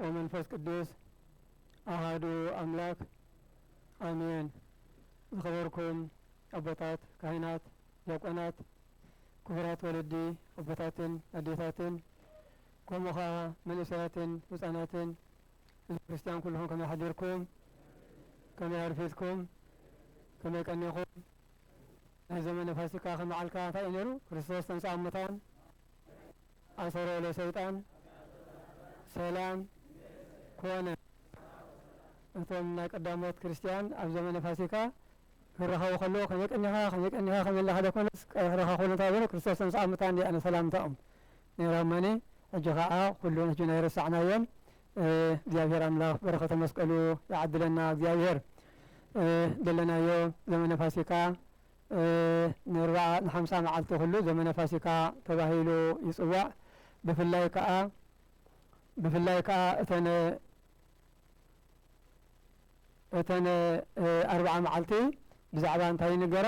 ወመንፈስ ቅዱስ ኣሃዱ ኣምላክ ኣሜን ዝኸበርኩም ኣቦታት ካህናት ዲያቆናት ክቡራት ወለዲ ኣቦታትን ኣዴታትን ከምኡ ከኣ መንእሰያትን ህጻናትን ህዝቢ ክርስትያን ኩልኹም ከመይ ሓዲርኩም ከመይ ኣርፊድኩም ከመይ ቀኒኹም ናይ ዘመነ ፋሲካ ከመዓልካ እንታይ እዩ ነይሩ ክርስቶስ ተንሥኣ እሙታን ኣሰሮ ለሰይጣን ሰላም ኮነ። እቶም ናይ ቀዳሞት ክርስትያን ኣብ ዘመነ ፋሲካ ክራኸቡ ከለዉ ከመይ ቀኒኻ ከመይ ቀኒኻ ከመይ ኣለኻ ደኮነስ ቀረሕረኻ ኩን እንተበሉ ክርስቶስ ተንሥኣ እሙታን እንዲያ ነ ሰላምታኦም ነይራ እሞኒ ሕጂ ከኣ ኩሉ ሕጂ ናይ ረሳዕናዮን እግዚኣብሔር ኣምላኽ በረኸተ መስቀሉ ይዓድለና እግዚኣብሔር ደለናዮ ዘመነ ፋሲካ ንርብዓ ንሓምሳ መዓልቲ ኹሉ ዘመነ ፋሲካ ተባሂሉ ይጽዋዕ። ብፍላይ ከኣ ብፍላይ ከኣ እተን እተን ኣርብዓ መዓልቲ ብዛዕባ እንታይ ይንገራ?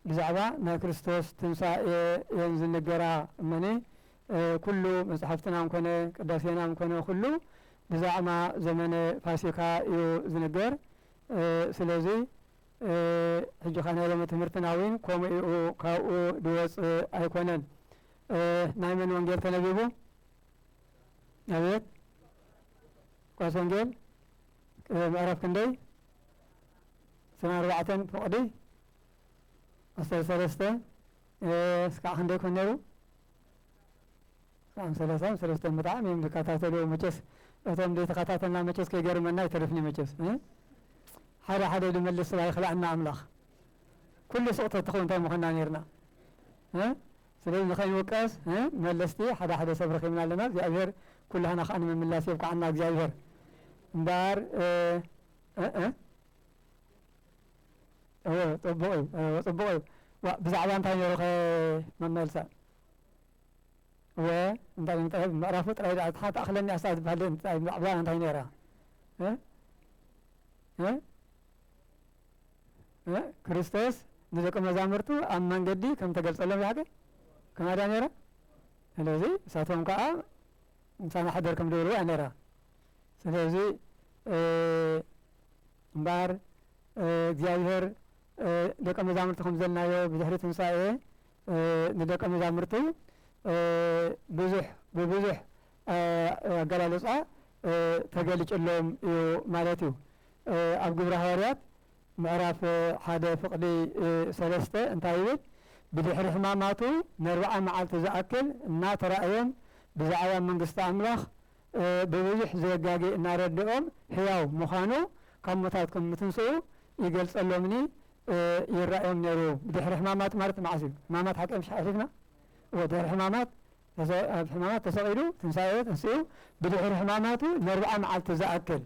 ብዛዕባ ናይ ክርስቶስ ትንሳኤ እየን ዝንገራ እመኒ ኩሉ መጽሓፍትናን ኮነ ቅዳሴናን ኮነ ኩሉ ብዛዕማ ዘመነ ፋሲካ እዩ ዝንገር። ስለዚ ሕጂኻ ናይ ሎሚ ትምህርትና ዊን ኮሙ ኢኡ ካብኡ ድወጽእ ኣይኮነን ናይ መን ወንጌል ተነቢቡ ኣቤት ቋስ ወንጌል ምዕራፍ ክንደይ ስነ ኣርባዕተን ፍቕዲ ኣስተ ሰለስተ እስካዕ ክንደይ ኮን ነይሩ ም ሰላሳ ም ሰለስተ ብጣዕሚ እዮም ዝከታተልዎ መቸስ እቶም ዘይተከታተልና መቸስ ከይገርመና ኣይተርፍንዩ መቸስ ም ሓደ ሓደ ድመልስ ስብ ኣይክላኣና ኣምላክ ኩሉ ሱቅ ተትከውን እንታይ ምኮና ነርና ም ስለዚ ንከይንውቀስ ም መለስቲ ሓደ ሓደ ሰብ ረኪብና ኣለና እግዚኣብሄር ኩላህና ከኣ ንምምላስ የብቃዓና እግዚኣብሄር እምበኣር እ እወ ፅቡቅ እዩ ፅቡቅ እዩ ዋእ ብዛዕባ እንታይ ነይሩ ከ መመልሳ እወ እንታይ ኢዮም ጥራይ ምዕራፉ ጥራይ ደኣ ሓንቲ ኣኽለኒ ኣስታት ዝበሃል እንታይ ብዛዕባ እንታይ ነይራ እ እ እ ክርስቶስ ንደቂ መዛሙርቱ ኣብ መንገዲ ከም ተገልጸሎም ይሓገ ከምኣ ድያ ነይራ ስለዚ ንሳቶም ከዓ ምሳና ሓደር ከም ዝበልዎ እያ ነይራ ስለዚ እምበኣር እግዚኣብሔር ደቂ መዛሙርቱ ከም ዘልናዮ ብድሕሪ ትንሳኤ ንደቀ መዛሙርቲ ብዙሕ ብብዙሕ ኣገላልጻ ተገልጭሎም እዩ ማለት እዩ። ኣብ ግብሪ ሃዋርያት ምዕራፍ ሓደ ፍቕዲ ሰለስተ እንታይ ይብል? ብድሕሪ ሕማማቱ ነርብዓ መዓልቲ ዝኣክል እናተራእዮም ብዛዕባ መንግስቲ ኣምላኽ ብብዙሕ ዘየጋጊ እናረድኦም ሕያው ምዃኑ ካብ ሙታት ከም ምትንስኡ ይገልጸሎምኒ ይራኣዮም ነይሩ ብድሕሪ ሕማማት ማለት ማዓስ እዩ ሕማማት ሓቀይ ምሽ ሓሊፍና እወ ድሕሪ ሕማማት ኣብ ሕማማት ተሰቂሉ ትንሳኤ ተንሲኡ ብድሕሪ ሕማማቱ ነርብዓ ማዓልቲ ዝኣክል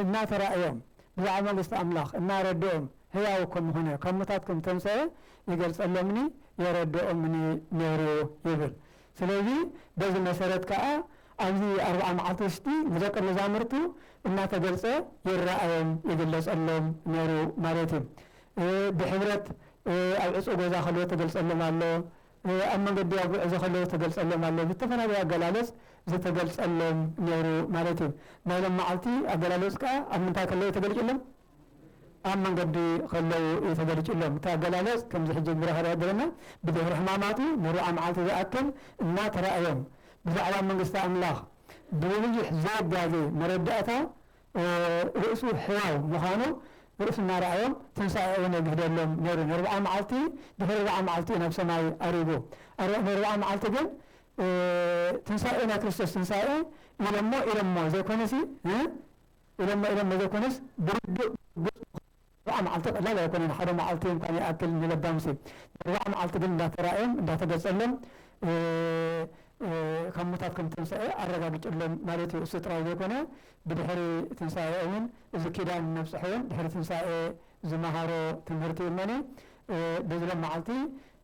እናተራእዮም ብዛዕባ መንግስቲ ኣምላኽ እናረድኦም ህያው ከም ምኾነ ካብ ሙታት ከም ተንሰኤ ይገልጸሎምኒ የረድኦምኒ ነይሩ ይብል ስለዚ በዚ መሰረት ከኣ ኣብዚ ኣርብዓ መዓልቲ ውሽጢ ንደቀ መዛሙርቱ እናተገልጸ ይረኣዮም ይግለጸሎም ነሩ ማለት እዩ። ብሕብረት ኣብ ዕጹው ገዛ ከለዉ ተገልጸሎም ኣሎ፣ ኣብ መንገዲ ኣብ ጉዕዞ ከለዉ ተገልጸሎም ኣሎ፣ ብዝተፈላለየ ኣገላለጽ ዝተገልጸሎም ነሩ ማለት እዩ። ናይ ሎም መዓልቲ ኣገላለጽ ከኣ ኣብ ምንታይ ከለዉ ተገልጭሎም? ኣብ መንገዲ ከለዉ እዩ ተገሊጹሎም። እቲ ኣገላልጽ ከምዚ ሕጂ ብራኸ ዝሕብረና ብድሕሪ ሕማማቱ ንርብዓ መዓልቲ ዝኣክል እና ተራእዮም ብዛዕባ መንግስቲ ኣምላኽ ብብዙሕ ዘይጋገ መረዳእታ ርእሱ ሕያው ምዃኑ ርእሱ እናረኣዮም ትንሳኤኡን የግህደሎም ነይሩ። ንርብዓ መዓልቲ ድሕሪ ርብዓ መዓልቲ እዩ ናብ ሰማይ ኣሪጉ። ኣረ ንርብዓ መዓልቲ ግን ትንሳኤ ናይ ክርስቶስ ትንሳኤ ኢሎሞ ኢሎሞ ዘይኮነሲ ኢሎሞ ኢሎሞ ዘይኮነስ ብርዱእ ግልጹ ኣርብዓ መዓልቲ ቀላል ኣይኮነን ሓደ መዓልቲ እንኳን ይኣክል ንለባምሲ ንኣርብዓ መዓልቲ ግን እንዳተራእዮም እንዳተገጸሎም ካብ ሙታት ከም ተንስኤ ኣረጋግጭሎም ማለት እዩ እሱ ጥራይ ዘይኮነ ብድሕሪ ትንሳኤኦምን እዚ ኪዳን ነብጽሑ ውን ድሕሪ ትንሳኤ ዝመሃሮ ትምህርቲ እመኒ በዝሎም መዓልቲ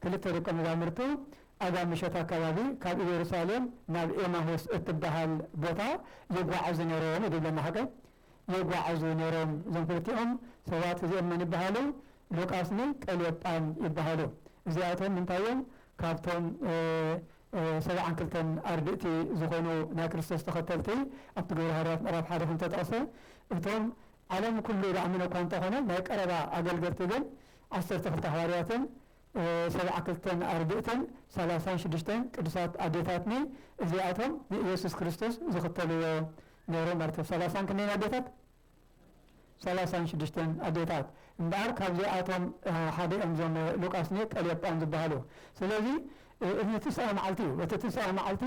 ክልተ ደቀ መዛምርቱ ኣጋ ምሸት ኣካባቢ ካብ ኢየሩሳሌም ናብ ኤማሁስ እትበሃል ቦታ ይጓዓዙ ነይሮም እዩ ድብለና ሓቀ ይጓዓዙ ነይሮም እዞም ክልቲኦም ሰባት እዚኦም መን ይበሃሉ ሉቃስ ን ቀልዮጳን ይበሃሉ እዚኣቶም እንታይ እዮም ካብቶም ሰብዓን ክልተን ኣርድእቲ ዝኾኑ ናይ ክርስቶስ ተኸተልቲ ኣብቲ ግብረ ሃዋርያት ምዕራፍ ሓደ ከም ዝተጠቕሰ እቶም ዓለም ኩሉ ዝኣመነ እኳ እንተኾነ ናይ ቀረባ ኣገልገልቲ ግን ዓሰርተ ክልተ ሃዋርያትን ሰብዓ ክልተን ኣርድእትን ሰላሳን ሽዱሽተን ቅዱሳት ኣዴታትኒ እዚኣቶም ንኢየሱስ ክርስቶስ ዝኽተልዎ ነይሮም ማለት እዮም። ሰላሳን ክንደይን ኣዴታት? ሰላሳን ሽዱሽተን ኣዴታት። እምበኣር ካብዚኣቶም ሓደ እዮም እዞም ሉቃስኒ ቀልዮጳን ዝበሃሉ። ስለዚ እዚ ትስኣ መዓልቲ እዩ። በቲ ትስኣ መዓልቲ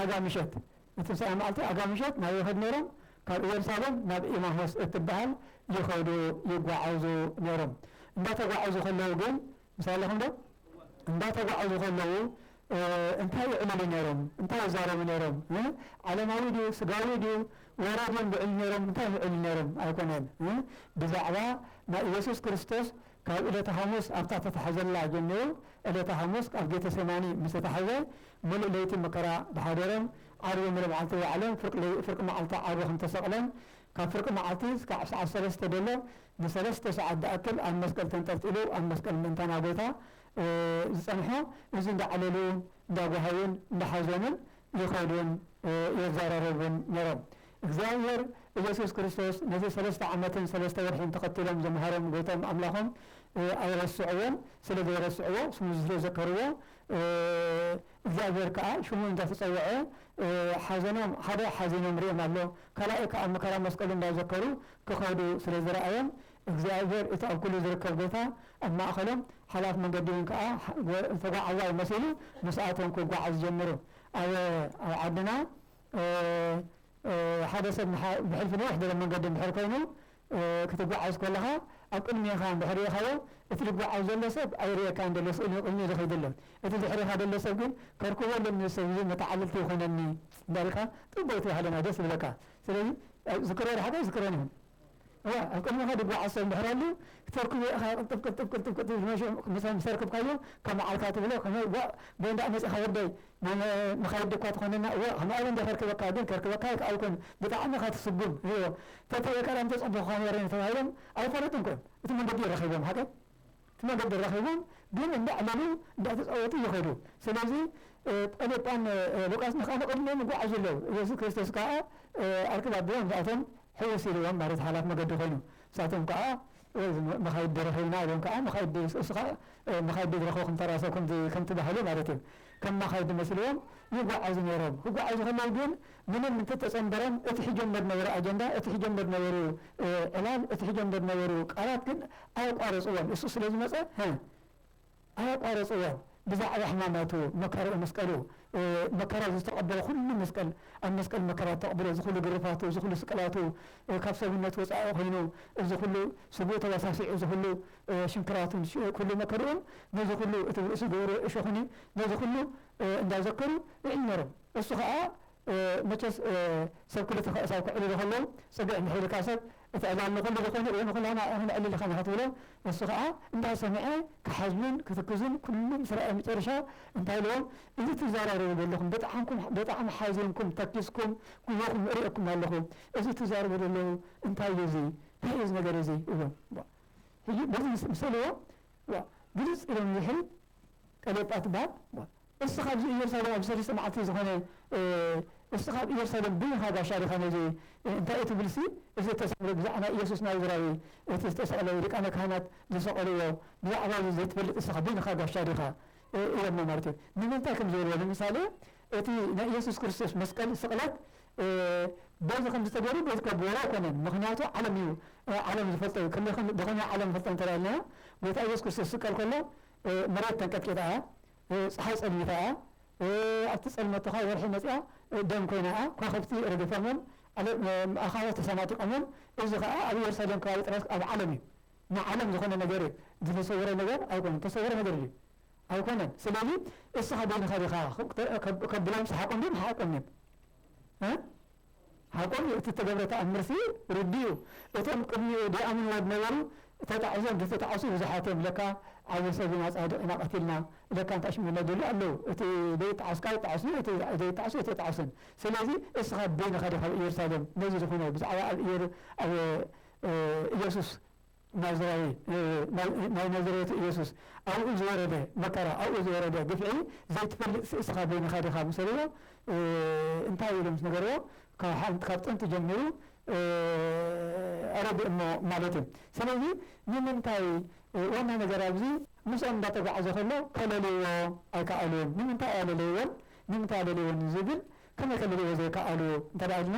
ኣጋ ምሸት ንትንሳኤ መዓልቲ ኣጋ ምሸት ናበይ ይኸዱ ነይሮም? ካብ እየሩሳሌም ናብ ኤማሆስ እትበሃል ይኸዱ፣ ይጓዓዙ፣ ነይሮም። እንዳተጓዓዙ ከለዉ ግን፣ ምሳይ ኣለኹምዶ? እንዳተጓዓዙ ከለዉ እንታይ ይዕልሉ ነይሮም? እንታይ ይዛረቡ ነይሮም? ዓለማዊ ድዩ? ስጋዊ ድዩ? ወረ ድዮም ዝዕልሉ ነይሮም? እንታይ እዮም ዝዕልሉ ነይሮም? ኣይኮነን። ብዛዕባ ናይ ኢየሱስ ክርስቶስ ካብ እለተ ሓሙስ ኣብታ ተታሕዘላ ጀሚሩ እለተ ሓሙስ ኣብ ጌተሴማኒ ምስ ተታሕዘ ምሉእ ለይቲ መከራ ድሓደረን ዓርቢ ምለብዓልቲ ዋዕለን ፍርቂ ለይ ፍርቂ መዓልቲ ዓርቢ ከም ተሰቕለን ካብ ፍርቂ መዓልቲ ስካዕ ሰዓት ሰለስተ ደሎ ንሰለስተ ሰዓት ድኣክል ኣብ መስቀል ተንጠልጢሉ ኣብ መስቀል ምእንታና ጎይታ ዝጸንሖ እዚ እንዳዕለሉን እንዳጓሃዩን እንዳሓዘኑን ይኸዱን የዛራረቡን ነሮም እግዚኣብሔር እየሱስ ክርስቶስ ነዚ ሰለስተ ዓመትን ሰለስተ ወርሒን ተኸቲሎም ዘምሃሮም ጎይቶም ኣምላኾም ኣይረስዕዎን ስለ ዘይረስዕዎ ስሙ ስለ ዘከርዎ እግዚኣብሔር ከኣ ሽሙ እንተ ተጸውዐ ሓዘኖም ሓደ ሓዚኖም ርእዮም ኣሎ ካላኣይ ከኣ መከራ መስቀሉ እንዳ ዘከሩ ክኸዱ ስለ ዝረኣዮም እግዚኣብሔር እቲ ኣብ ኩሉ ዝርከብ ጎይታ ኣብ ማእከሎም ሓላፍ መንገዲ ውን ከኣ ተጓዓዛይ መሲሉ ምስኣቶም ክጓዓዝ ጀምሩ ኣበ ኣብ ዓድና ሓደ ሰብ ብሕልፊ ነዊሕ ድበለ መንገዲ እንድሕር ኮይኑ ክትጓዓዝ ኮለኻ ኣብ ቅድሜኻ ድሕሬኻዎ እቲ ድጓዓዝ ዘሎ ሰብ ኣይርእየካን ደሎ ስእሊ ንቅድሚኡ ዝኸይድ ኣሎ እቲ ድሕሬኻ ደሎ ሰብ ግን ከርክቦ ኣለኒ እዚ ሰብ እዚ መተዓልልቲ ይኾነኒ እንዳበልካ ጥቡቅ ትባህለና ደስ ዝብለካ ስለዚ ዝክሮ ድሓቂ ኣይዝክሮን ይኹን እወ ኣብ ቅድሜኻ ድጓዓዝ ሰብ እንድሕር ኣሉ ክተርክቦ ኢኻ ቅልጥፍ ቅልጥፍ ቅልጥፍ ቅልጥፍ ድሕሪ ሽዑ ምስ ኣርክብካዮ ከም መዓልካ ትብሎ ከመይ ጓዕ ጎይንዳ መጺኻ ወደይ መን ንኻይዲ እኳ ተኾነና እወ ኸማኡ እውን ከርክበካ ግን ከርክበካ ኣይከኣልኩን ብጣዕሚ ኢኻ ትስጉም ሪኦ ተተየ ቀዳም ተፀቡኩኻ ነይረ ተባሂሎም ኣይኾነትን እኮ እቲ መንገዲ ረኺቦም ሓቀይ እቲ መንገዲ ረኺቦም ግን እንዳዕለሉ እንዳተፃወቱ ይኸዱ ስለዚ ጰሊጳን ሉቃስን ኻዓ ንቕድሚኦም ይጓዓዙ ኣለው እየሱስ ክርስቶስ ካዓ ኣርክብ ኣቢሎም ንሳቶም ሕውስ ኢልዎም ማለት ሓላፊ መገዲ ኾይኑ ንሳቶም ካዓ ወዝ መኻይድ ዶ ረኺብና ኢሎም ከኣ መኻይድ ዶ ይስእሱ ከኣ መኻይድ ዶ ዝረኸብኩም ተራ ሰብ ከምዚ ከምቲ ባህሊ ማለት እዩ ከም መኻይድ መስልዎም ይጓዓዙ ነይሮም ክጓዓዙ ከለዉ ግን ምንም እንተተጸንበረም እቲ ሒጆም ደድነበሩ ኣጀንዳ እቲ ሒጆም ደድነበሩ ዕላል እቲ ሒጆም ደድነበሩ ቃላት ግን ኣየቋረጽዎን እሱ ስለ ዝመጸ ኣየቋረጽዎን ብዛዕባ ሕማማቱ መከርኡ መስቀሉ መከራ ዝተቀበሎ ኩሉ መስቀል ኣብ መስቀል መከራ ዝተቅብሎ እዚ ኩሉ ግርፋቱ እዚ ኩሉ ስቅላቱ ካብ ሰብነት ወጻኢ ኮይኑ እዚ ኩሉ ስግኡ ተባሳሲዑ እዚ ኩሉ ሽንክራቱን ኩሉ መከርኡን ነዚ ኩሉ እቲ ርእሱ ዝገበርዎ እሾኽኒ ነዚ ኩሉ እንዳ ዘከሩ ይዕዩ ነሮም እሱ ከኣ መቸስ ሰብ ክልተ ከእሳው ክዕልሉ ከለው ጽግዕ እንድሕር ኢልካ ሰብ እቲ ዕላል ንኹሉ ዝኾነ ወይ ንኹላና እያ ንዕልል ኢኻ ንኽትብሎ እሱ ኸኣ እንዳ ሰምዐ ክሓዝኑን ክትክዙን ኩሉ ምስ ረኣየ መጨረሻ እንታይ ኢልዎም እዚ ትዛራረቡ ደለኹም በጣዕምኩም በጣዕሚ ሓዚንኩም ተኪዝኩም ጉሆኹም እርእየኩም ኣለኹ እዚ ትዛረቡ ደለዉ እንታይ እዩ እዚ ታይ እዩ እዚ ነገር እዚ ኢልዎም ዋእ ሕጂ በዚ ምስ ምስ በልዎ ዋእ ግልጽ ኢሎም ንድሕሪት ቀሌጳ ትብሃል ዋእ እስኻ ኣብዚ ኢየሩሳሌም ኣብ ሰለስተ መዓልቲ ዝኾነ እስኻ ኣብ ኢየሩሳሌም ብይኻ ጋሻ ዲኻ ነዚ እንታይ እትብልሲ እዚ እተሳዕረ ብዛዕባ ናይ ኢየሱስ ናዝራዊ እቲ ዝተሰቕለ ሊቃነ ካህናት ዝሰቐልዎ ብዛዕባ እዚ ዘይትፈልጥ እስኻ ብይንኻ ጋሻ ዲኻ ኢሎሞ ማለት እዩ ንምንታይ ከም ዝበልዎ ንምሳሌ እቲ ናይ ኢየሱስ ክርስቶስ መስቀል ስቕለት በዚ ከምዚ ተገይሩ በዚ ከብልዎ ኣይኮነን ምኽንያቱ ዓለም እዩ ዓለም ዝፈልጦ እዩ ከመይ ብኸመይ ዓለም ይፈልጦ እንተኢልና ጎይታ ኢየሱስ ክርስቶስ ዝስቀል ከሎ መሬት ተንቀጥቂጣ እያ ጸሓይ ጸልሚታ እያ፣ ኣብቲ ጸልመቶ ከኣ ወርሒ መጺኣ ደም ኰይና እያ፣ ከዋኽብቲ ረጊፎሞም፣ ኣኻውሕ ተሰናጢቖሞም፣ እዚ ኸኣ ኣብ የሩሳሌም ከባቢ ጥራይስ ኣብ ዓለም እዩ፣ ንዓለም ዝዀነ ነገር እዩ፣ ዝተሰውረ ነገር ኣይኰነን፣ እተሰውረ ነገር ድዩ? ኣይኰነን፣ ስለዚ እስኻ በይንኻ ዲኻ? ከብሎም ሰሓቖም ድዮም? ኣይሰሓቖምን እዮም። ሓቆም እዩ እቲ እተገብረ ተኣምርሲ ርዱእ እዩ። እቶም ቅድሚኡ ዲኣምንዎ ዝነበሩ ተጣዒሶም ተተጣዕሱ ብዙሓት እዮም ለካ ዓቢ ሰብ ኢና ጻድቕ ኢና ቀቲልና ለካ እንታይ ሽሙ ኢና ዝብሉ ኣለዉ እቲ ዘይጣዓስ ካኣ ይጣዓስ እዩ እቲ ዘይጣዓስ ኣይተጣዕስን ስለዚ እስኻ በይንኻ ዲኻ ኣብ ኢየሩሳሌም ነዚ ዝኹነ ብዛዕባ ኣብ ኢየሩ ኣብ ኢየሱስ ናዝራዊ ናይ ናዝሬቱ ኢየሱስ ኣብኡ ዝወረደ መከራ ኣብኡ ዝወረደ ግፍዒ ዘይትፈልጥሲ እስኻ በይንኻ ዲኻ ምሰልዎ እንታይ ኢሉ ምስ ነገርዎ ካብ ጥንቲ ጀሚሩ ኣረጊእ እሞ ማለት እዩ ስለዚ ንምንታይ ዋና ነገር ኣብዚ ምስኦም እንዳተጓዕዘ ከሎ ከለልዎ ኣይከኣሉን ንምንታይ ኣለለይዎን ንምንታይ ኣለልይዎን ዝብል ከመይ ከለልዎ ዘይከኣሉ እንተ ኢልና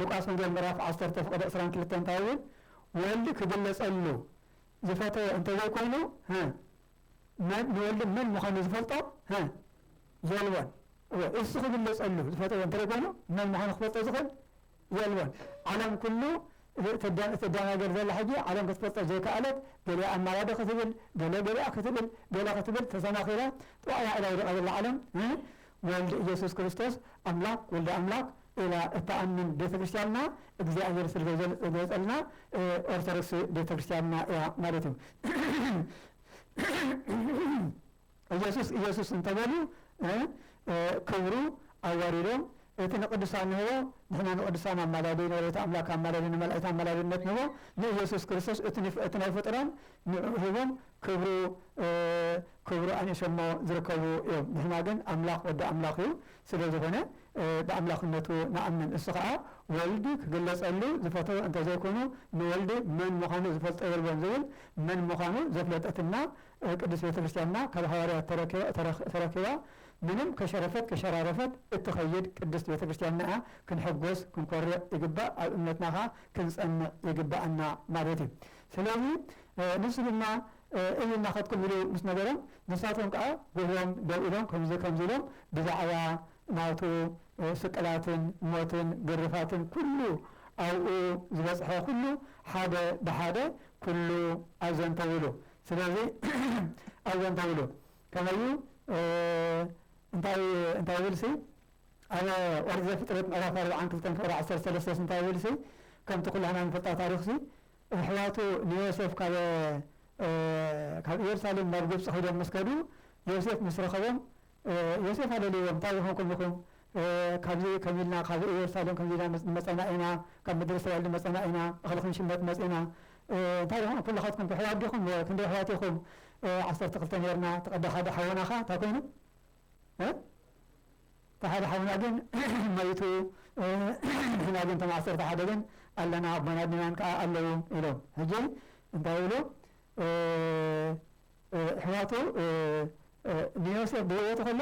ሉቃስ ወንጌል ምዕራፍ ዓሰርተ ፍቕዲ ዕስራን ክልተን እንታይ ይብል? ወልድ ክግለጸሉ ዝፈተወ እንተ ዘይኮይኑ ንወልድ መን ምዃኑ ዝፈልጦ የልቦን። እወ እሱ ክግለጸሉ ዝፈተወ እንተ ዘይኮይኑ መን ምዃኑ ክፈልጦ ዝኽእል የልቦን። ዓለም ኩሉ እትደናገር ዘላ ሕጂ ዓለም ክትፈልጦ ዘይከኣለት ገሊኣ ኣማላዶ ክትብል ገለ ገሊኣ ክትብል ገለ ክትብል ተሰናኺላ ጥዋይ ኢላ ኢላ ዝወድቃ ዘላ ዓለም ወልድ ኢየሱስ ክርስቶስ ኣምላክ ወልደ ኣምላክ ኢላ እትኣምን ቤተ ክርስትያንና እግዚኣብሔር ስለዘገልጸልና ኦርቶዶክስ ቤተ ክርስትያንና እያ ማለት እዩ። ኢየሱስ ኢየሱስ እንተበሉ ክብሩ ኣዋሪዶም እቲ ንቅዱሳን ንህቦ ንሕና ንቅዱሳን ኣማላዲ ንወላዲተ ኣምላክ ኣማላዲ ንመላእክት ኣማላድነት ንህቦ ንኢየሱስ ክርስቶስ እቲ ናይ ፍጡራን ንዕኡ ሂቦም ክብሩ ክብሩ ኣንኢሶሞ ዝርከቡ እዮም ንሕና ግን ኣምላኽ ወዲ ኣምላኽ እዩ ስለ ዝኾነ ብኣምላኽነቱ ንኣምን እሱ ኸኣ ወልድ ክግለጸሉ ዝፈተወ እንተ ዘይኮኑ ንወልድ መን ምዃኑ ዝፈልጦ የልቦን ዝብል መን ምዃኑ ዘፍለጠትና ቅድስት ቤተ ክርስቲያንና ካብ ሃዋርያት ተረኪባ ምንም ከሸረፈት ከሸራረፈት እትኸይድ ቅድስት ቤተ ክርስቲያንና እያ ክንሕጎስ ክንኮርዕ ይግባእ ኣብ እምነትና ኸኣ ክንጸንዕ ይግብኣና ማለት እዩ ስለዚ ንሱ ድማ እይ እናኸድኩም ኢሉ ምስ ነገሮም፣ ንሳቶም ከኣ ጕህዮም ደው ኢሎም ከምዚ ከምዚ ኢሎም ብዛዕባ ናቱ ስቅላትን ሞትን ግርፋትን ኵሉ ኣብኡ ዝበጽሐ ኵሉ ሓደ ብሓደ ኵሉ ኣዘንተዉሉ። ስለዚ ኣዘንተዉሉ ከመይ እዩ እንታይ እንታይ ይብልሲ ኣብ ኦሪት ዘፍጥረት ምዕራፍ ኣርብዓን ክልተን ክብሪ ዓሰርተ ሰለስተስ እንታይ ይብልሲ ከምቲ ኵላህና ንፈልጣ ታሪኽሲ ኣሕዋቱ ንዮሴፍ ካብ ካብ ኢየሩሳሌም ናብ ግብጺ ኺዶም ምስ ከዱ ዮሴፍ ምስ ረኸቦም ዮሴፍ ኣለልይዎም እንታይ ዝኾንኩም ኢኹም ካብዚ ከምዚ ኢልና ካብ ኢየሩሳሌም ከምዚ ኢልና ንመጸና ኢና ካብ ምድሪ እስራኤል ንመጸና ኢና እኽሊ ክንሽመት መጺና እንታይ ኢኹም ኩልኻትኩም ኣሕዋት ዲኹም ክንደይ ኣሕዋት ኢኹም ዓሰርተ ክልተ ኔርና እቲ ቀዳሕ ሓደ ሓውናኻ እንታይ ኮይኑ እቲ ሓደ ሓውና ግን መይቱ ንሕና ግን እቶም ዓሰርተ ሓደ ግን ኣለና ኣቦና ዲናን ከዓ ኣለዉ ኢሎም ሕጂ እንታይ ይብሉ ኣሕዋቱ ንዮሴፍ ብህይወቱ ከሎ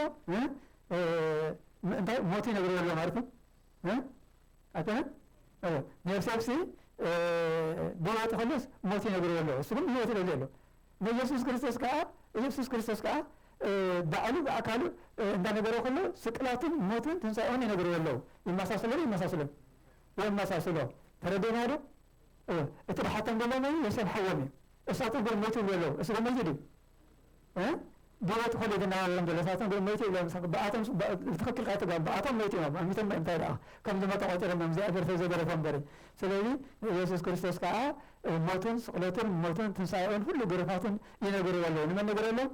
እንታይ ሞት ይነግርዎ ኣሎ ማለት እዩ ኣይኮነን ንዮሴፍሲ ብህይወቱ ከሎስ ሞት ይነግርዎ ኣሎ እሱ ግን ብህይወት ኢለ ዘሎ ንኢየሱስ ክርስቶስ ከኣ ኢየሱስ ክርስቶስ ከኣ ባዕሉ ብኣካሉ እንዳ ነገሮ ከሎ ስቅላቱን ሞቱን ትንሳኤኡን ይነግርዎ ኣለዉ ይመሳሰሎ ዶ ይመሳሰሎም የመሳስሎ ተረዴና ዶ እወ እቲ ድሓቶም ደሎ መን ዮሴፍ ሓዎም እዩ እሳቶም ግን ሞቱ ይብሉ ኣለዉ እሱ ከመዚ ድዩ ቢሮ እቲ ኮሌጅ እናበለሎም ዘሎ ንሳቶም ግን ሞይቱ ኢሎም ምሳኹ ብኣቶም ብትኽክል ካይተጋቡ ብኣቶም ሞይቱ ኢሎም ኣሚቶም እምበር እንታይ ደኣ ከም ዝሞተ ቆጺሮም ኢዮም እግዚኣብሔር ሰብ ዘይገደፎ እምበሪ ስለዚ ንኢየሱስ ክርስቶስ ከኣ ሞቱን ስቅለቱን ሞቱን ትንሳኤኡን ኩሉ ግሩፋቱን ይነግርዎ ኣለዉ ንመን ነግረሎም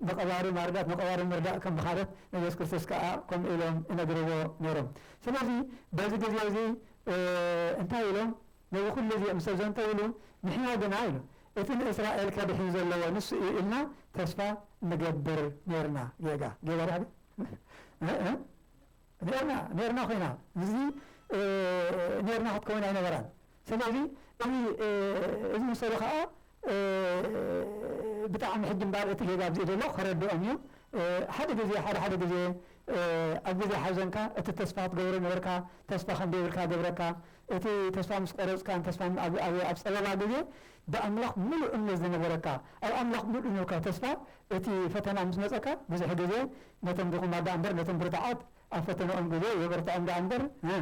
ንቀባሪ ማርዳት ንቀባሪ ምርዳእ ከም ብካለት ንኢየሱስ ክርስቶስ ከኣ ከምኡ ኢሎም ይነግርዎ ነይሮም ስለዚ በዚ ግዜ እዚ እንታይ ኢሎም ነዚ ኩሉ እዚ ምስ ኣዘንተውሉ ንሕና ግና ኢሎም እቲ ንእስራኤል ከድሕን ዘለዎ ንሱ እዩ ኢልና ተስፋ ንገብር ኔርና ጌጋ ጌጋ ዳሕዲ እእ ኔርና ኔርና ኮይና ምስዚ ኔርና ክትከውን ኣይነበራን ሰለዚ እዚ እዚ መሰሉ ከኣ ብጣዕሚ ሕጂ እምባር እቲ ጌጋ ኣብዚ ዘሎ ከረድኦም እዩ ሓደ ግዜ ሓደ ሓደ ግዜ ኣብ ግዜ ሓዘንካ እቲ ተስፋ ክትገብሮ ነበርካ ተስፋ ከምደይብልካ ገብረካ እቲ ተስፋ ምስ ቆረጽካን ተስፋ ኣብ ኣብ ኣብ ጸበባ ግዜ ብኣምላኽ ምሉእ እምነት ዝነበረካ ኣብ ኣምላኽ ምሉእ ኑካ ተስፋ እቲ ፈተና ምስ መጸካ ብዙሕ ግዜ ነቶም ድኹማት ደኣ እምበር ነቶም ብርቱዓት ኣብ ፈተነኦም ግዜ የበርትዖም ደኣ እምበር እ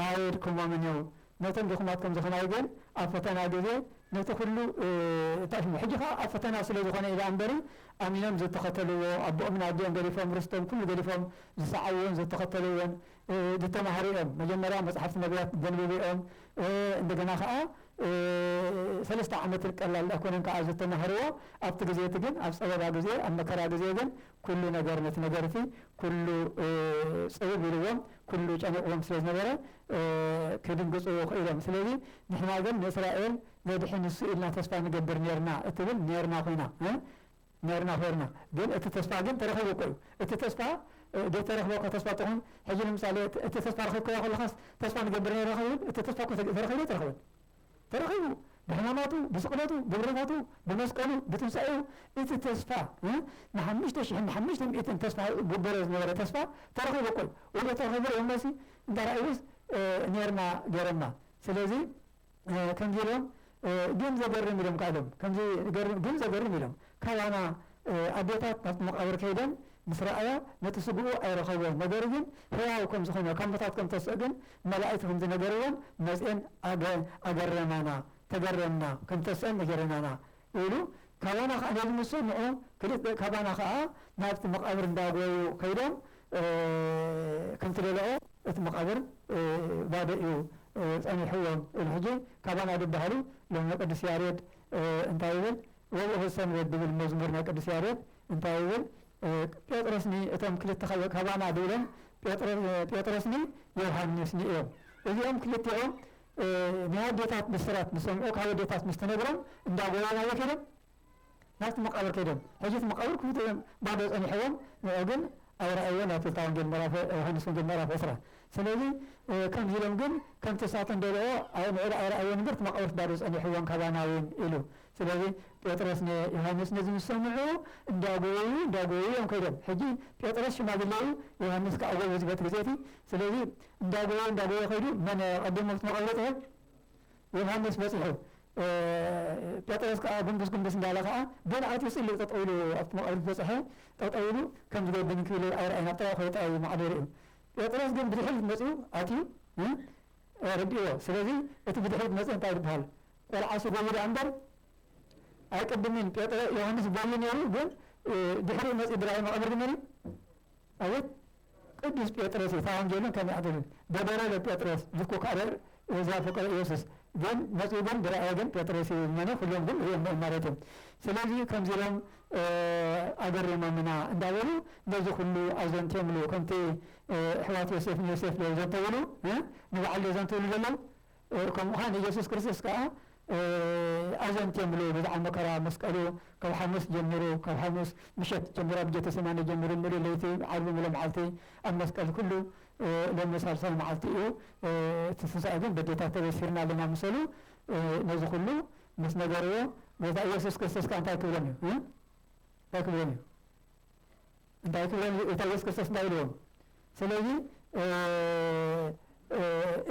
ኣየድክሞምን እዩ ነቶም ድኹማት ከምዚ ከማይ ግን ኣብ ፈተና ግዜ ነቲ ኩሉ እ ሕጂ ከኣ ኣብ ፈተና ስለ ዝኾነ እዩ ደኣ እምበሪ ኣሚኖም ዝተኸተልዎ ኣቦኦምን ኣዲኦም ገዲፎም ርስቶም ኩሉ ገዲፎም ዝሰዓብዎን ዝተኸተልዎን ድተማሃሩኦም መጀመርያ መጽሓፍት ነብያት ደንብብኦም እንደገና ከኣ ሰለስተ ዓመት ቀላል ኣይኮነን ከኣ ዝተማህርዎ ኣብቲ ግዜ እቲ ግን ኣብ ጸበባ ግዜ ኣብ መከራ ግዜ ግን ኩሉ ነገር ነቲ ነገር እቲ ኩሉ ጽብብ ኢልዎም ኩሉ ጨኒቕዎም ስለ ዝነበረ ክድንግጹ ክኢሎም ስለዚ ንሕና ግን ንእስራኤል ዘድሕን ንሱ ኢልና ተስፋ ንገብር ኔርና እትብል ኔርና ኮይና ኔርና ዄርና ግን እቲ ተስፋ ግን ተረኺቡ እኮ እዩ እቲ ተስፋ ዶ ተረኽበ እኮ ተስፋ ጥዑም ሕጂ ንምሳሌ እቲ ተስፋ ረኺብካዮ ከለኻስ ተስፋ ንገብር ኔርና ክንብል እቲ ተስፋ እኮ ተረኺቡ ኣይተረኽበን ተረኺቡ ብሕማማቱ ብስቅለቱ ብብረታቱ ብመስቀሉ ብትንሳኤኡ እቲ ተስፋ ንሓሙሽተ ሽሕን ንሓሙሽተ ሚእትን ተስፋ ግበሮ ዝነበረ ተስፋ ተረኺቡ እኮ እዩ ወይዶ ተረኺቡ ርኤሞ ሲ እንተ ረኣዩስ ኔርና ጌረና ስለዚ ከምዚ ኢሎም ግን ዘገርም ኢሎም ከኣ ኢሎም ከምዚ ገርም ግን ዘገርም ኢሎም ካባና ኣዴታት ናብቲ መቃብር ከይደን ምስ ረኣያ ነቲ ስግኡ ኣይረኸብዎን ነገሩ ግን ህያው ከም ዝኾነ ካብ ሙታት ከም ተስኦ ግን መላኢክት ከም ዝነገርወን መጽኤን ኣገረማና ተገረምና ከም ተስኦ ነገረናና ኢሉ ካባና ከኣ ነዚ ምስ ሰምዑ ክልተ ካባና ከኣ ናብቲ መቃብር እንዳጎዩ ከይዶም ከምቲ በልዖ እቲ መቃብር ባዶ እዩ ጸኒሕዎም ኢሉ ሕጂ ካባና ድበሃሉ ሎሚ ቅዱስ ያሬድ እንታይ ይብል ወብእኹ ሰንበት ድብል መዝሙር ናይ ቅዱስ ያሬድ እንታይ ይብል ጴጥሮስኒ እቶም ክልተ ካባና ድብሎም ጴጥሮስኒ ዮውሃንስኒ እዮም እዚኦም ክልቲኦም ናይ ኣዴታት ብስራት ዝሰምዑ ካብ ኣዴታት ምስ ተነግሮም እንዳ ጎየዩ ኣበይ ከይዶም ናብቲ መቃብር ከይዶም ሕጂ እቲ መቃብር ክፉት እዮም ባዶ ጸኒሕዎም ንዑ ግን ኣይረኣይዎን ኣብቲ እታ ወንጌል ምዕራፍ ዮሃንስ ወንጌል ምዕራፍ ዕስራ ስለዚ ከምዚ ኢሎም ግን ከምቲ እሳተን ደልኦ ንዑ ኣይረኣይዎን እምበር እቲ መቃብርስ ባዶ ጸኒሕዎም ካባና እውን ኢሉ ስለዚ ጴጥሮስ ንዮሃንስ ነዚ ምስ ሰምዑ እንዳ ጎየዩ እንዳ ጎየዩ እዮም ከይዶም ሕጂ ጴጥሮስ ሽማግለ እዩ ዮሃንስ ከኣ ጎበዝ በቲ ግዜ እቲ ስለዚ እንዳጎየ እንዳጎየ ከይዱ መን ቀዲሙ ክትመቐብሮ ትብል ዮውሃንስ በጺሑ ጴጥሮስ ከኣ ጉንብስ ጉንብስ እንዳለ ከኣ በልዓት ይጽሊ ጠጠው ኢሉ ኣብቲ መቓብር ዝበጽሐ ጠጠው ኢሉ ከም ዝገብን እንክብልል ኣይረኣየን ኣብ ጥቓኡ ከይወጸ ኣዩ ማዕዶ ርእዩ ጴጥሮስ ግን ብድሕሪት መጽኡ ኣትዩ ርድእዎ ስለዚ እቲ ብድሕሪት መጽእ እንታይ ይብሃል ቆልዓስ ይጎዩ ደኣ እምበር ኣይቅድምን ጴጥሮ ዮውሃንስ ጎዩ ነይሩ ግን ድሕሪኡ መጽዩ ብራዩ መቓብር ግን መን እዩ ኣቤት ቅዱስ ጴጥሮስ እታ ወንጌልን ከም ያዕቆብን ገበረ ለጴጥሮስ ዝኩክ ኣረር እዛ ፍቅረ ኢየሱስ ግን መጹ ግን ብራእየ ግን ጴጥሮስ እዩ ዝመነ ኩሎም ግን ርእዮሞ ማለት እዩ ስለዚ ከምዚ ኢሎም ኣገሪሞምና እንዳበሉ ነዚ ኩሉ ኣዘንትዮምሉ ከምቲ እሕዋት ዮሴፍ ንዮሴፍ ዶ ዘንተውሉ ንባዕሉ ዶ ዘንትውሉ ዘለው ከምኡ ከኣ ንኢየሱስ ክርስቶስ ከኣ ኣዘንትዮ ምሉኡ ብዝኃ መከራ መስቀሉ ካብ ሓሙስ ጀሚሩ ካብ ሓሙስ ምሸት ጀሚሩ ኣብ ጌተሰማኒ ጀሚሩ ምሉእ ለይቲ ዓርቢ ምሉእ መዓልቲ ኣብ መስቀል ኩሉ ሎሚ ሳልሳይ መዓልቲ እዩ እቲ ትንሣኤ ግን በዴታት ተበሲርና ኣለና ምሰሉ ነዚ ኩሉ ምስ ነገርዎ ጐይታ ኢየሱስ ክርስቶስ ከኣ እንታይ ክብሎም እዩ እንታይ ክብሎም እዩ እንታይ ክብሎም ጌታ ኢየሱስ ክርስቶስ እንታይ ኢልዎም ስለዚ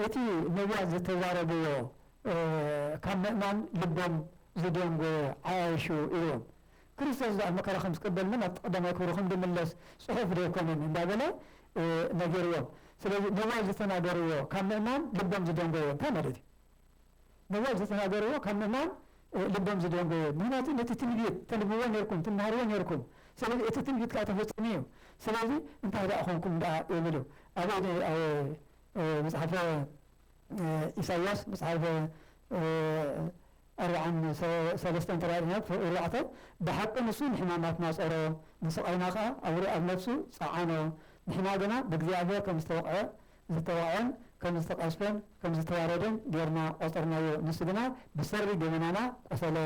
እቲ ነቢያት ዝተዛረብዎ ካብ ምእማን ልቦም ዝደንጎየ ዓያይሹ ኢልዎም ክርስቶስ ዛኣ መከራ ከም ዝቅበል ናብ ቀዳማይ ክብሩ ከም ዝምለስ ጽሑፍ ዶ ኣይኮነን እንዳበለ ነጊርዎም ስለዚ ነቢያት ዝተናገርዎ ካብ ምእማን ልቦም ዝደንጎየ እንታይ ማለት እዩ ነዋይ ዝተናገርዎ ካብ ምእማን ልቦም ዝደንጎየ ምክንያቱ ነቲ ትንቢት ተንብብዎ ኔርኩም ትማሃርዎ ኔርኩም ስለዚ እቲ ትንቢት ከኣ ተፈጺሙ እዩ ስለዚ እንታይ ደኣ ኮንኩም ደኣ ይብሉ ኣበይ ኣብ መጽሓፈ ኢሳይያስ መጽሓፈ ኣርብዓን ሰለስተን ተራእና ክፍል ኣርባዕተ ብሓቂ ንሱ ንሕማማትና ጾሮ ንስቓይና ከኣ ኣብ ነፍሱ ጸዓኖ ንሕና ግና ብእግዚኣብሔር ከም ዝተወቕዐ ዝተዋዕኦን ከም ዝተቐዝፈን ከም ዝተዋረደን ጌርና ቆጸርናዮ፣ ንሱ ግና ብሰሪ ገበናና ቆሰለ፣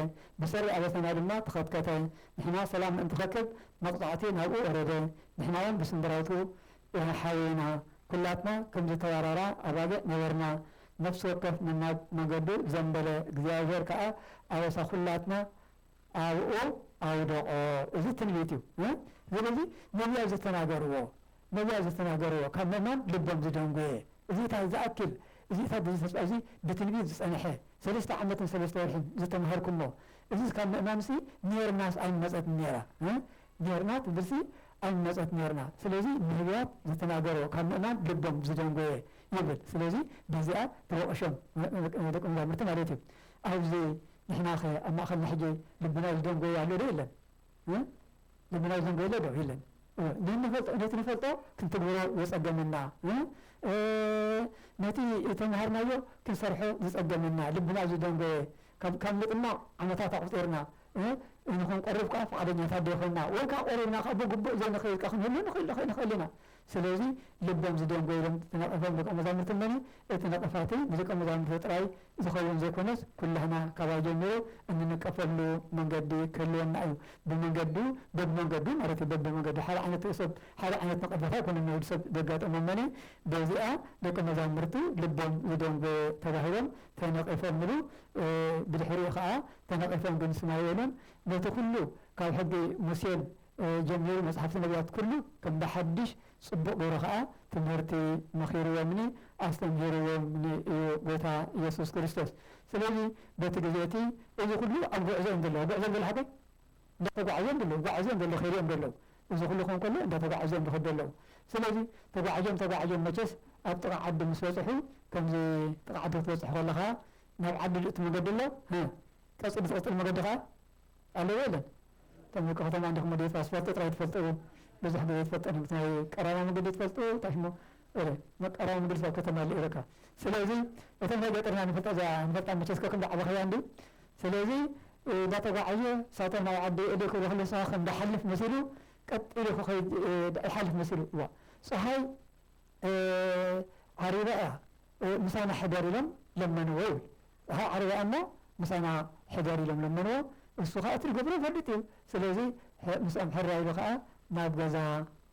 ብሰሪ ኣበሳና ድማ ተኸትከተ፣ ንሕና ሰላም ንእንተኸክብ መቕጻዕቲ ናብኡ ወረደ፣ ንሕናውን ብስንብራቱ ኢና ሓውየና፣ ኩላትና ከም ዝተዋራራ ኣባጊዕ ነበርና፣ ነፍሲ ወከፍ ነናብ መገዱ ዘንበለ፣ እግዚኣብሄር ከኣ ኣበሳ ኩላትና ኣብኡ ኣውደቖ። እዚ ትንቢት እዩ። እዚ ነዚ ነቢያት ዝተናገርዎ ነዛ ዝተናገርዎ ካብ ምእማን ልቦም ዝደንጎየ እዚ ታይ ዝኣክል እዚ ሰብ እዚ ተስፋ እዚ ብትንቢት ዝጸነሐ ሰለስተ ዓመትን ሰለስተ ወርሕን ዝተማሃርኩሞ እዝስ ካብ ምእማንሲ ኔርናስ ኣይመጸትን ኔራ እ ኔርና ትብልሲ ኣይመጸት ኔርና ስለዚ ነብያት ዝተናገርዎ ካብ ምእማን ልቦም ዝደንጎየ ይብል ስለዚ በዚኣ ተወቕሾም ደቂ መዛሙርቲ ማለት እዩ ኣብዚ ንሕናኸ ኣብ ማእኸልና ሕጂ ልብና ዝደንጎየ ኣሎ ዶ የለን? እ ልምናይ ዘንጎይለ ዶ ይለን እ ነንፈልጦ ነቲ ንፈልጦ ክንትግብሮ ዘጸገመና እ እ ነቲ እተመሃርናዮ ክንሰርሖ ዝጸገመና ልብና ዝደንጎየ ካብ ካብ ምጥማቕ ዓመታት ኣቑጺርና እ እንኹንቀርብ ከኣ ፍቓደኛታት ዶ ኾንና ወይ ከኣ ቆሪብና ከኣ ብግቡእ ዘይንኸይድ ከኣ ክንህሉ ንኽእል ንኽእል ኢና ስለዚ ልቦም ዝደንጎየ ኢሎም ዝነቐፎም ደቀ መዛሙርቲ እነኒ፣ እቲ ነቐፋ እቲ ንደቀ መዛሙርቲ ጥራይ ዝኸውን ዘይኮነስ ኩላህና ካባይ ጀሚሩ እንንቀፈሉ መንገዲ ክህልወና እዩ። ብመንገዱ በብመንገዱ ማለት እዩ በብመንገዱ ሓደ ዓይነት ሰብ ሓደ ዓይነት ነቐፈታ ኣይኮነን ንወዲ ሰብ ዘጋጠሞ እነኒ በዚኣ ደቀ መዛሙርቲ ልቦም ዝደንጎየ ተባሂሎም ተነቒፎም እሉ ብድሕሪኡ ከኣ ተነቒፎም ግን ስማይ የለን ነቲ ኩሉ ካብ ሕጊ ሙሴን ጀሚሩ መጽሓፍቲ ነብያት ኩሉ ከም ብሓድሽ ጽቡቅ ገሩ ከኣ ትምህርቲ መኺርዎምኒ ኣስተምሂርዎምኒ እዩ ጎይታ የሱስ ክርስቶስ ስለዚ በቲ ግዜ እቲ እዚ ኩሉ ኣብ ጉዕዞ እዮም ዘለዉ ኣብ ጉዕዞ እዮም ዘለዉ ሓቀይ እንዳ ተጓዓዙ እዮም ዘለዉ ጓዕዙ እዮም ዘለዉ ከይዱ እዮም ዘለዉ እዚ ኩሉ ክኾን ከሎ እንዳ ተጓዓዙ እዮም ዝኸዱ ዘለዉ ስለዚ ተጓዓዞም ተጓዓዞም መቸስ ኣብ ጥቃ ዓዲ ምስ በጽሑ ከምዚ ጥቃ ዓዲ ክትበጽሑ ከለኻ ናብ ዓዲ ዝእቱ መገዲ ኣሎ ቀጺሉ ዝቅጽል መገዲ ከኣ ኣለዎ የለን እቶም ደቂ ከተማ እንዲኹም ወዲ የጽባህ ትፈልጦ ጥራይ ትፈልጦ እየ ብዙሕ ግዜ ትፈልጦ ነብት ናይ ቀራማ መገዲ ትፈልጦ እየ እንታይ ሽሙ እረ መቀራማ መገዲ ስብ ከተማ ኣለ ኢረካ ስለዚ እቶም ናይ ገጠር ኢና ንፈልጣ እዚኣ ንፈልጣ መቸስ ከክም ዳዕበኽያ እንዲ ስለዚ ዳተጓዓየ ሳቶም ናብ ዓዲ እዲ ክብሎ ከሎ ንስኻ ከም ዳሓልፍ መሲሉ ቀጥ ኢሉ ክኸይድ ዳይሓልፍ መሲሉ እዋ ጸሃይ ዓሪበያ ምሳና ሕደር ኢሎም ለመንዎ ይብል ዉሓ ዓሪበያ እሞ ምሳና ሕደር ኢሎም ለመንዎ እሱ ካኣ እቲ ድገብሮ ይፈልጥ እዩ ስለዚ ምስኦም ሕራይ ኢሉ ካኣ ናብ ገዛ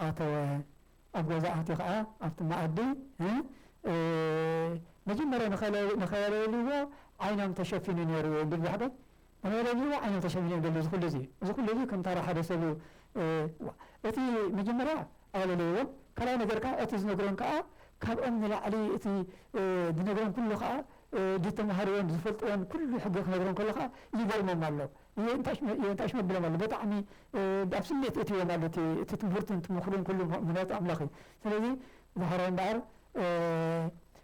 ኣተወ ኣብ ገዛ ኣትዩ ካኣ ኣብቲ ማኣዲ መጀመርያ ንከለልዎ ዓይኖም ተሸፊኑ ነይሩ እዩ እንዲል ዛሕጎል ኣባይረዚ ዋእ ኣነ ተሸሚመ በሊ እዚ ኩሉ እዚ እዚ ኩሉ እዚ ከም ታራ ሓደ ሰብ ዋእ እቲ መጀመርያ ኣየለለይዎን ካልኣይ ነገር ከኣ እቲ ዝነግሮም ከኣ ካብኦም ንላዕሊ እቲ ድነግሮም ኩሉ ከኣ ድተማሃርዎን ዝፈልጥዎን ኩሉ ሕጊ ክነግሮም ከሎ ከኣ ይገርሞም ኣሎ የንታሽ መብሎም ኣሎ በጣዕሚ ኣብ ስሜት እእትዎም ኣሎ እቲ እቲ ትምህርቱን ትምክሩን ኩሉ ምክንያቱ ኣምላኽ እዩ ስለዚ ዝሓራይ እምበኣር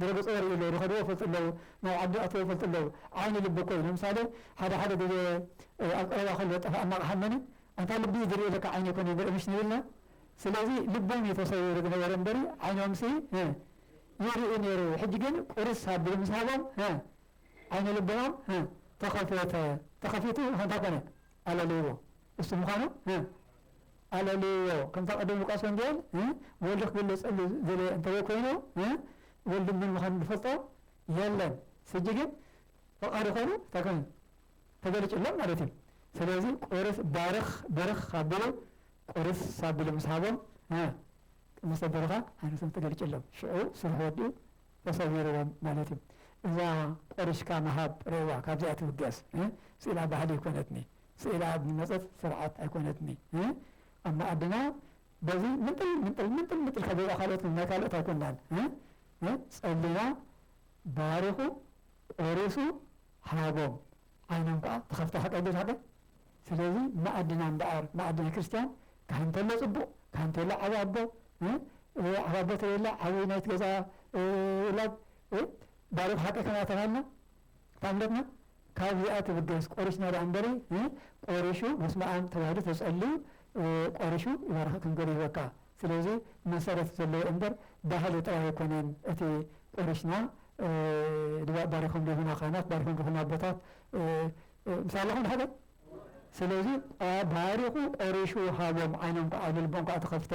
ድረገጽ ወሪኡ ኣሎ ዝኸድዎ ይፈልጡ ኣለዉ ናብ ዓዲ ኣተዉ ይፈልጡ ኣለዉ ዓይኒ ልቢ እኮ እዩ ለምሳሌ ሓደ ሓደ ግዜ ኣብ ቀረባ ከሎ ዝጠፍኣና ኣቕሓ እነኒ ኣንታ ልቢ እዩ ዝሪኦ ለካ ዓይኒ ኣይኮነን ዝሪኦ ምሽ ንብልና ስለዚ ልቦም እዩ ተሰዊሩ ዝነበረ እምበሪ ዓይኖምሲ ይርኢ ነይሩ ሕጂ ግን ቁርስ ኣቢሉ ምስ ሃቦም ዓይኒ ልቦም ተኸፈተ ተኸፊቱ ኸንታ ኮነ ኣለልይዎ እሱ ምዃኑ ኣለልዎ ከምታ ቀደም ሉቃስ ወንጌል እ ወልድ ክግለጽ ጸሉ ዝደለየ እንተዘይ ኮይኑ እ ወልድ መን ምዃኑ ዝፈልጦ የለን ስጂ ግን ፈቃዱ ኮይኑ እንታይ ኮይኑ ተገሊጹሎም ማለት እዩ ስለዚ ቁርስ ባርኽ ብርኽ ካብሉ ቁርስ ሳብሉ ምስ ሃቦም እ ቅድስተ ብሩኻን ሃይማኖቶም ተገሊጹሎም ሽዑ ስርሑ ወዲኡ ተሰዊርዎም ማለት እዩ እዛ ቆሪስካ ምሃብ ሬዋ ካብዚኣ ትብገስ እ ስኢላ ባህሊ ኮይነትኒ ስኢላ ኣብ ዝመጸት ስርዓት ኣይኮነትኒ ኣብ መኣድና በዚ ምንጥል ምንጥል ምንጥል ምንጥል ካብ ገዛ ካልኦት ናይ ካልኦት ኣይኮናን ጸሊና ባሪኹ ቆሪሱ ሃቦም ዓይኖም ከኣ ተኸፍታ ሓቀይ ዶ ሓቀይ ስለዚ መኣድና እምበኣር መኣድና ክርስትያን ካህን ተሎ ጽቡቕ ካህን ተሎ ዓቢ ኣቦ ዓቢ ኣቦ ተሌላ ዓቢ ናይቲ ገዛ ውላድ ባሪኹ ሓቀይ ከናተባሃልና እታ እምነትና ካብዚኣ ትብገስ ቆሪስና ድኣ እንበሪ እ ቆሪሹ በስመኣም ተባሂሉ ተጸልዩ ቆሪሹ ይባርኸክን ገሩ ሂበካ ስለዚ መሰረት ዘለዎ እንበር ባህሊ ጥራይ ኣይኮነን እቲ ቆሪስና ድባእ ባሪኾም ሂቡና ካህናት ባሪኾም ሂቡና ኣቦታት ምሳይ ኣለኹም ድሓደይ ስለዚ ባሪኹ ቆሪሹ ሃቦም ዓይኖም ክዓ ኢሉ ልቦም ክዓ ተኸፍተ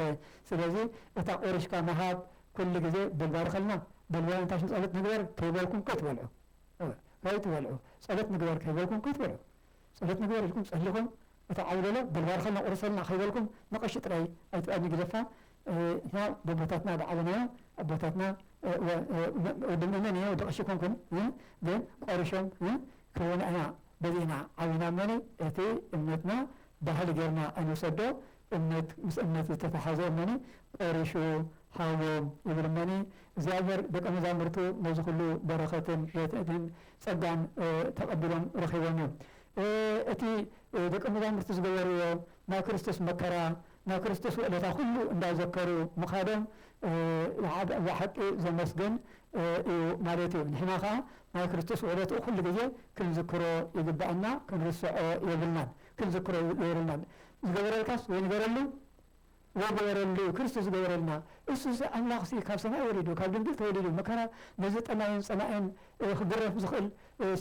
ስለዚ እታ ቆሪሽካ ምሃብ ኩሉ ግዜ በል ባርኸልና በል ዋላ እንታይ ሽም ጸሎት ንግበር ከይበልኩም ከይትበልዑ እወ ከይትበልዑ ጸሎት ንግበር ከይበልኩም ከይትበልዑ ጸሎት ንግበር ኢልኩም ጸሊኹም እቲ ዓቢ በሎ በል ባርኸልና ቁረሰልና ከይበልኩም ንቀሺ ጥራይ ኣይትኣድኒ ግደፋ ንሕና በቦታትና ብዓበናዮ ኣቦታትና እወ ወዲ ምእመን እየ ወዲ ቀሺ ኣይኮንኩን ግን ቆሪሾም ክህቡና ኢና በዚእና ዓቢና እሞ እቲ እምነትና ባህሊ ጌርና ኣይንውሰዶ እምነት ምስ እምነት ዝተታሓዘ እመኒ ቆሪሹ ሃዎም ይብል እመኒ እግዚኣብሔር ደቀ መዛሙርቱ ነዚ ኩሉ በረከትን ሬትዕትን ፀጋን ተቀቢሎም ረኪቦም እዮም እቲ ደቀ መዛሙርቲ ዝገበርዎ ናይ ክርስቶስ መከራ ናይ ክርስቶስ ውዕለታ ኩሉ እንዳዘከሩ ምካዶም ብሓቂ ዘመስግን እዩ ማለት እዩ ንሕና ካዓ ናይ ክርስቶስ ውዕለትኡ ኩሉ ግዜ ክንዝክሮ ይግበኣና ክንርሰዖ የብልናን ክንዝክሮ የርልናን ዝገበረልካስ ወይ ንገረሉ ወይ ግበረሉ ክርስቶስ ዝገበረልና እሱሲ ኣምላኽሲ ካብ ሰማይ ወሪዱ ካብ ድንግል ተወሊዱ መከራ ነዚ ጠማይን ጸማእን ክግረፍ ዝኽእል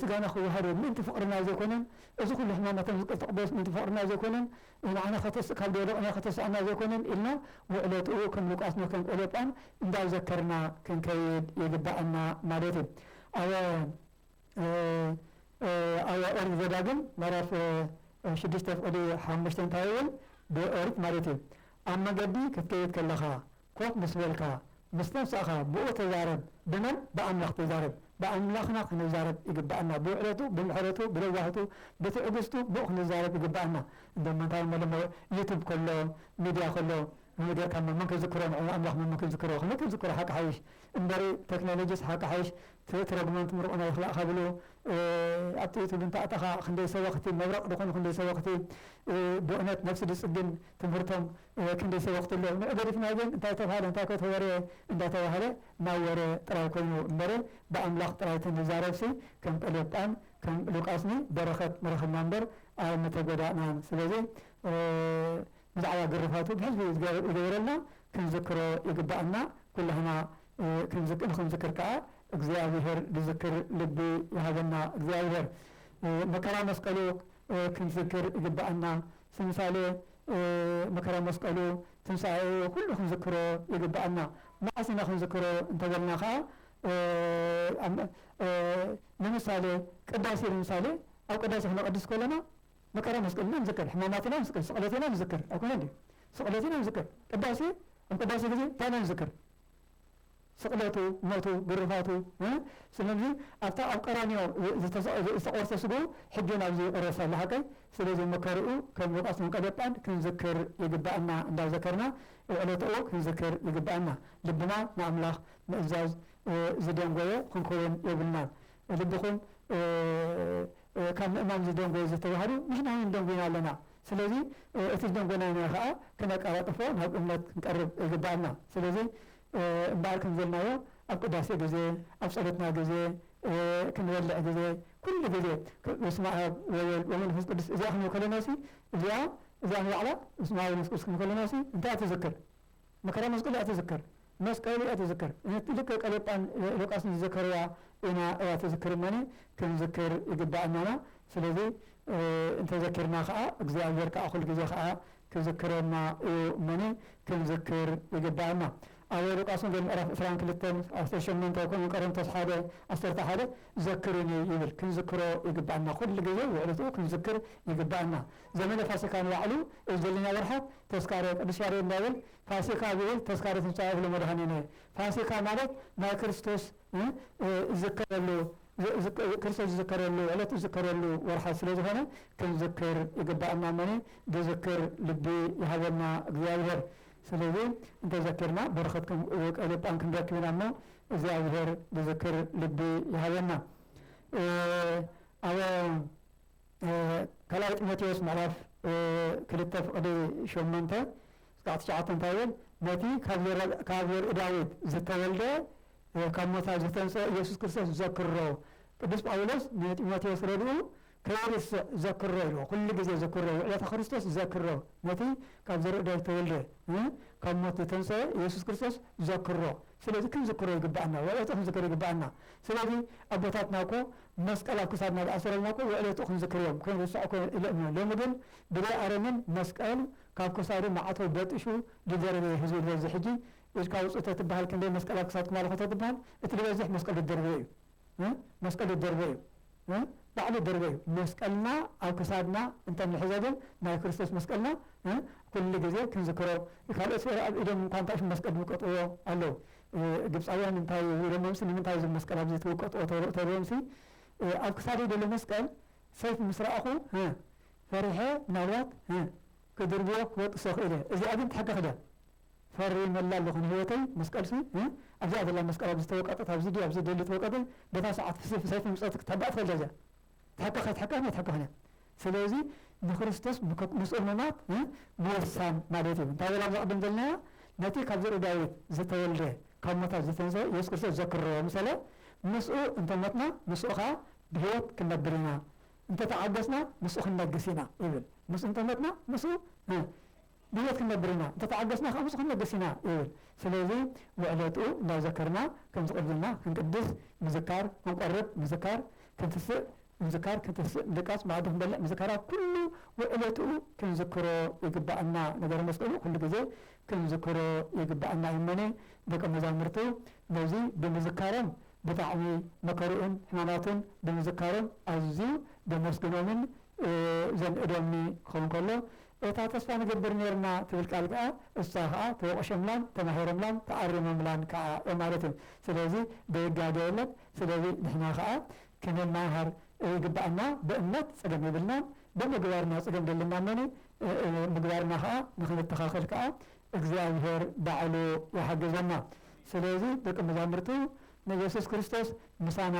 ስጋና ክዋሃዶ ምእንቲ ፍቅርና ዘይኮነን እዚ ኩሉ ሕማማትና ዝቅተቅበሎስ ምእንቲ ፍቅርና ዘይኮነን ንዓና ከተስእ ካብ ዝወደቅናዮ ከተስኣና ዘይኮነን ኢልና ውዕለትኡ ከም ሉቃስ ን ከም ቆሎጳን እንዳዘከርና ክንከይድ ይግበኣና ማለት እዩ ኣወ ኣያ ኦሪት ዘዳግም ምዕራፍ ሽዱሽተ ፍቕዲ ሓሙሽተ እንታይ ይብል? ብኦሪት ማለት እዩ፣ ኣብ መገዲ ክትከይድ ከለኻ፣ ኮፍ ምስ በልካ፣ ምስ ነፍሳኻ ብኡ ተዛረብ። ብመን? ብኣምላኽ ተዛረብ። ብኣምላኽና ክንዛረብ ይግብኣና። ብውዕለቱ፣ ብምሕረቱ፣ ብለዋህቱ፣ ብትዕግስቱ ብኡ ክንዛረብ ይግብኣና። እንዶ ምንታይ እሞ ሎሚ ዩቱብ ከሎ፣ ሚድያ ከሎ ነገርካ እሞ መን ክዝክሮ ንዕኡ ኣምላኽ መን ክዝክሮ? ክንክዝክሮ ሓቂ ሓይሽ። እምበሪ ተክኖሎጂስ ሓቂ ሓይሽ ትት ረግመንት ምሩቕና ይኽላእካ ብሉ ኣብ ጥይት ሁሉ እንተኣተኻ ክንደይ ሰበኽቲ መብረቕ ድኾኑ ክንደይ ሰበኽቲ ብእነት ነብሲ ድጽግን ትምህርቶም ክንደይ ሰበኽቲ ኣሎ ንዑ ገዲፍና ግን እንታይ ተብሃለ እንታይ ኮ ተወርየ እንዳተባህለ ናይ ወረ ጥራይ ኮይኑ እምበሪ ብኣምላኽ ጥራይ ተንዛረብሲ ከም ቀልዮጳን ከም ሉቃስኒ በረኸት ንረኽብና እምበር ኣይምተጎዳእናን ስለዚ ብዛዕባ ግርፋቱ ብሕዝቢ ዝገበረልና ክንዝክሮ ይግበኣና ኩላህና ንክንዝክር ከኣ እግዚኣብሄር ዝዝክር ልቢ ይሃበና እግዚኣብሄር መከራ መስቀሉ ክንዝክር ይግበኣና ስምሳሌ መከራ መስቀሉ ትንሳኤኡ ኩሉ ክንዝክሮ ይግበኣና መዓስ ኢና ክንዝክሮ እንተበልና ከኣ ንምሳሌ ቅዳሴ ንምሳሌ ኣብ ቅዳሴ ክነቀድስ ከለና መከራ መስቀልና ንዝክር፣ ሕማማት ኢና ንዝክር፣ ስቕለት ኢና ንዝክር፣ ኣይኮነን ድዩ? ስቕለት ኢና ንዝክር፣ ቅዳሴ ኣብ ቅዳሴ ግዜ እንታይ ኢና ንዝክር? ስቕለቱ፣ ሞቱ፣ ግርፋቱ፣ ስለምዚ ኣብታ ኣብ ቀራንዮ ዝተቖርሰ ስግኡ ሕጂ ውን ኣብዚ ይቕረስ ኣሎ ሓቀይ፣ ስለዚ መከርኡ ከም ሉቃስ መንቀሌ ጳንድ ክንዝክር ይግብኣና፣ እንዳዘከርና ዕለትኡ ክንዝክር ይግብኣና፣ ልብና ንኣምላኽ ምእዛዝ ዝደንጎየ ክንከውን የብልናን፣ ልብኹም ካብ ምእማን ዝደንጎዩ ዝተዋህዱ ንሕና ውን ደንጉይና ኣለና ስለዚ እቲ ዝደንጎናዮ ከኣ ክነቃላጥፎ ናብ እምነት ክንቀርብ ይግበኣና ስለዚ እምበኣር ከምዘልናዮ ኣብ ቅዳሴ ግዜ ኣብ ጸሎትና ግዜ ክንበልዕ ግዜ ኩሉ ግዜ በስመኣብ ወወልድ ወመንፈስ ቅዱስ እዚኣ ክንብል ከለናሲ እዚኣ እዚኣ ንባዕላ በስመኣብ ወመንፈስ ቅዱስ ክንብል ከለናሲ እንታይ እያ ትዝክር መከራ መስቀሉ እያ ትዝክር መስቀሉ እያ ትዝክር ነቲ ልክዕ ቀሌጳን ሉቃስን ዝዘከርዋ ኢና እያ ትዝክር እመኒ ክንዝክር ይግባኣናና ስለዚ እንተዘኪርና ከኣ እግዚኣብሔር ከኣ ኩሉ ግዜ ከኣ ክዝክረና እዩ እመኒ ክንዝክር ይግባኣና ኣብ ሉቃስ ወንጌል ምዕራፍ ዕስራን ክልተን ዓሰርተ ሸሞንተ ከምኡ ቀረንቶስ ሓደ ዓሰርተ ሓደ ዘክሩኒ ይብል ክንዝክሮ ይግባኣና ኩሉ ግዜ ውዕለትኡ ክንዝክር ይግባኣና ዘመነ ፋሲካ ንባዕሉ እብ ዘሎና ወርሓት ተስካረ ቅዱስ ያሬድ እንታይ ይብል ፋሲካ ዝብል ተስካረ ትንሣኤ እብሎ መድኃኒነ ፋሲካ ማለት ናይ ክርስቶስ እዝከረሉ ክርስቶስ ዝዝከረሉ ዕለት ዝዝከረሉ ወርሓት ስለ ዝኾነ ክንዝክር ይግባእና እሞ ዝዝክር ልቢ ይሃበና እግዚኣብሔር ስለዚ እንተዘኪርና በረኸት ቀልዮጳን ክንረክብ ኢና እሞ እግዚኣብሔር ዝዝክር ልቢ ይሃበና ኣብ ካልኣይ ጢሞቴዎስ ምዕራፍ ክልተ ፍቕዲ ሸሞንተ እስካዕ ትሽዓተ እንታይ ይብል? ነቲ ካብ ዘርኢ ዳዊት ዝተወልደ ካብ ሞታት ዝተንስኦ ኢየሱስ ክርስቶስ ዘክሮ። ቅዱስ ጳውሎስ ንጢሞቴዎስ ረድኡ ከይርስዕ ዘክሮ ኢልዎ። ኩሉ ግዜ ዝክሮ፣ ውዕለተ ክርስቶስ ዘክሮ፣ ነቲ ካብ ዘርኢ ዳዊት ዝተወልደ ካብ ሞት ዝተንስኦ ኢየሱስ ክርስቶስ ዘክሮ። ስለዚ ክንዝክሮ ይግብኣና፣ ውዕለቱ ክንዝክር ይግብኣና። ስለዚ ኣቦታትና እኮ መስቀል ኣብ ክሳድና ዝኣሰረልና እኮ የዕለቱ ክንዝክር እዮም ክንርስዖ እኮ ኢሎምና ሎሚ ግን ብዘይ ኣረሚን መስቀል ካብ ክሳዱ ማዕተቡ በጢሹ ድደርበ እዩ ህዝቢ ዝበዝሕ ሕጂ ኢድካ ኣውጽእ ተትብሃል ክንደይ መስቀል ኣብ ክሳድኩም ኣለኹ ተትብሃል እቲ ድበዝሕ መስቀል ድደርበ እዩ እ መስቀል ድደርበ እዩ እ ባዕሉ ድደርበ እዩ መስቀልና ኣብ ክሳድና እንተ ንሕዞ ግን ናይ ክርስቶስ መስቀልና እ ኩሉ ግዜ ክንዝክሮ ካልኦት ኣብ ኢዶም እንኳ እንታይ ሽም መስቀል ድምቀጥዎ ኣለዉ ግብጻውያን እንታይ ኢሎሞምሲ ንምንታይ እዚ መስቀል ኣብዚ ትውቀጥዎ ተብሎምሲ ኣብ ክሳደይ ዘሎ መስቀል ሰይፊ ምስ ረኣኹ ፈሪሐ ምናልባት ክድርብዮ ክበጥሶ ክእል እየ እዚኣ ግን ትሕከኽ ድያ ፈሪመላ ኣለኹ ንህይወተይ መስቀልሲ ኣብዚኣ ዘላ መስቀል ኣብዚ ተወቀጠት ኣብዚ ድዩ ኣብዚ ደሊ ተወቀጠ በታ ሰዓት ሰይፊ ምጸት ክትሕባእ ትኽእል እያ እዚኣ ትሕከኽ ኣይትሕከኽን ኣይትሕከኽን እያ ስለዚ ንክርስቶስ ምክ ምስ እሙናት ምውሳን ማለት እዩ። እንታይ በለ ኣብዚ ቅድም ዝበልናዮ ነቲ ካብ ዘርኢ ዳዊት ዝተወልደ ካብ ሙታት ዝተንስኤ የሱስ ክርስቶስ ዘክርዎ ምሰለ ምስኡ እንተ ሞትና ምስኡ ከኣ ብህይወት ክንነብር ኢና እንተ ተዓገስና ምስኡ ክንነግስ ኢና ይብል ምስኡ እንተ ሞትና ምስኡ ብህይወት ክንነብር ኢና፣ እንተ ተዓገስና ኸኣ ብዙሕ ክንለግስ ኢና ይብል። ስለዚ፣ ውዕለትኡ እንዳዘከርና ከም ዝቐልልና ክንቅድስ ምዝካር፣ ክንቆርብ ምዝካር፣ ክንትስእ ምዝካር፣ ክንትስእ ምድቃስ፣ መኣዲ ክንበልዕ ምዝካር፣ ኣብ ኩሉ ውዕለትኡ ክንዝክሮ ይግብኣና። ነገረ መስቀሉ ኩሉ ግዜ ክንዝክሮ ይግብኣና። እመኒ ደቀ መዛሙርቱ ነዚ ብምዝካሮም ብጣዕሚ መከርኡን ሕማማቱን ብምዝካሮም ኣዝዩ ዘመስግኖምን ዘንእዶምኒ ክኸውን ከሎ፣ እታ ተስፋ ንገብር ኔርና ትብል ቃል ከኣ እሳ ከኣ ተወቕሾምላን ተማሂሮምላን ተኣሪሞምላን ከኣ እዮም ማለት እዩ ስለዚ ደይጋገ የለን ስለዚ ንሕና ከኣ ክንማሃር ይግበኣና ብእምነት ጸገም የብልናን ብምግባርና ጸገም ደለና እሞኒ ምግባርና ከኣ ንኽንተኻኸል ከኣ እግዚኣብሄር ባዕሉ ይሓግዘና ስለዚ ደቂ መዛሙርቱ ንየሱስ ክርስቶስ ምሳና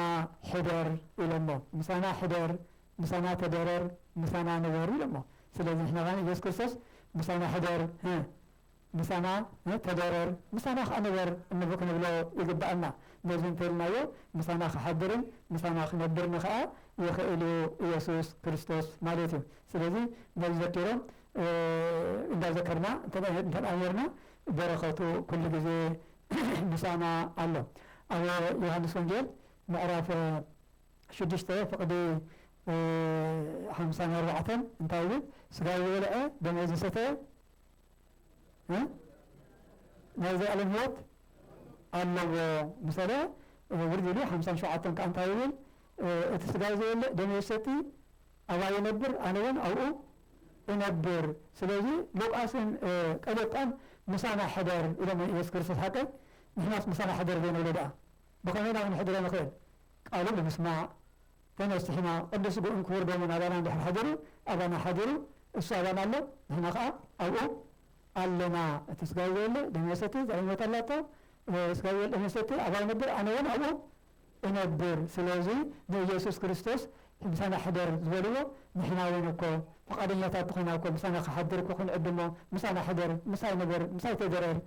ሕደር ኢሎሞ ምሳና ሕደር ምሳና ተደረር ምሳና ንበር ኢሎሞ ስለዚ ንሕና ከኣ ኢየሱስ ክርስቶስ ምሳና ሕደር ህ ምሳና ተደረር ምሳና ከኣ ንበር እንብ ክንብሎ ይግብኣና ነዚ እንተ ኢልናዮ ምሳና ክሓድርን ምሳና ክነብርን ከኣ ይኽእል እዩ ኢየሱስ ክርስቶስ ማለት እዩ ስለዚ ነዚ ዘኪሮም እንዳ ዘከርና እንተ ኔርና በረኸቱ ኩሉ ግዜ ምሳና ኣሎ ኣብ ዮሐንስ ወንጌል ምዕራፍ ሽዱሽተ ፍቅዲ ሓምሳን ኣርባዕተን እንታይ ይብል ስጋይ ዝበልዐ ደመይ ዝሰተየ እ ናይ ዘላለም ህይወት ኣለዎ ምሰለ ውርድ ኢሉ ሓምሳን ሸውዓተን ከዓ እንታይ ይብል እቲ ስጋይ ዝበልዕ ደመይ ዝሰቲ ኣባይ ይነብር ኣነ እውን ኣብኡ እነብር ስለዚ ሉቃስን ቀለዮጳን ምሳና ሕደር ኢሎሞ ኢየሱስ ክርስቶስ ሓቀይ ንሕናስ ምሳና ሕደር ዘይንብሎ ደኣ ብኸመይ ኢና ክንሕድሮ ንኽእል? ቃሉ ብምስማዕ፣ ተነሲሕና ቅዱስ ስግኡን ክቡር ደሙን ኣባና እንድሕር ሓዲሩ፣ ኣባና ሓዲሩ፣ እሱ ኣባና ኣሎ፣ ንሕና ኸኣ ኣብኡ ኣለና። እቲ ስጋይ ዘይብለ ደመይ ዝሰቲ ዘልኣለም ህይወት ኣላቶ፣ ስጋይ ዘይብለ ደመይ ዝሰቲ ኣባይ ይነብር፣ ኣነ እውን ኣብኡ እነብር። ስለዚ ንኢየሱስ ክርስቶስ ምሳና ሕደር ዝበልዎ፣ ንሕና እውን እኮ ፍቓደኛታት እንተኾይና እኮ ምሳና ክሓድር እኮ ክንዕድሞ፣ ምሳና ሕደር፣ ምሳይ ንበር፣ ምሳይ ተደረር፣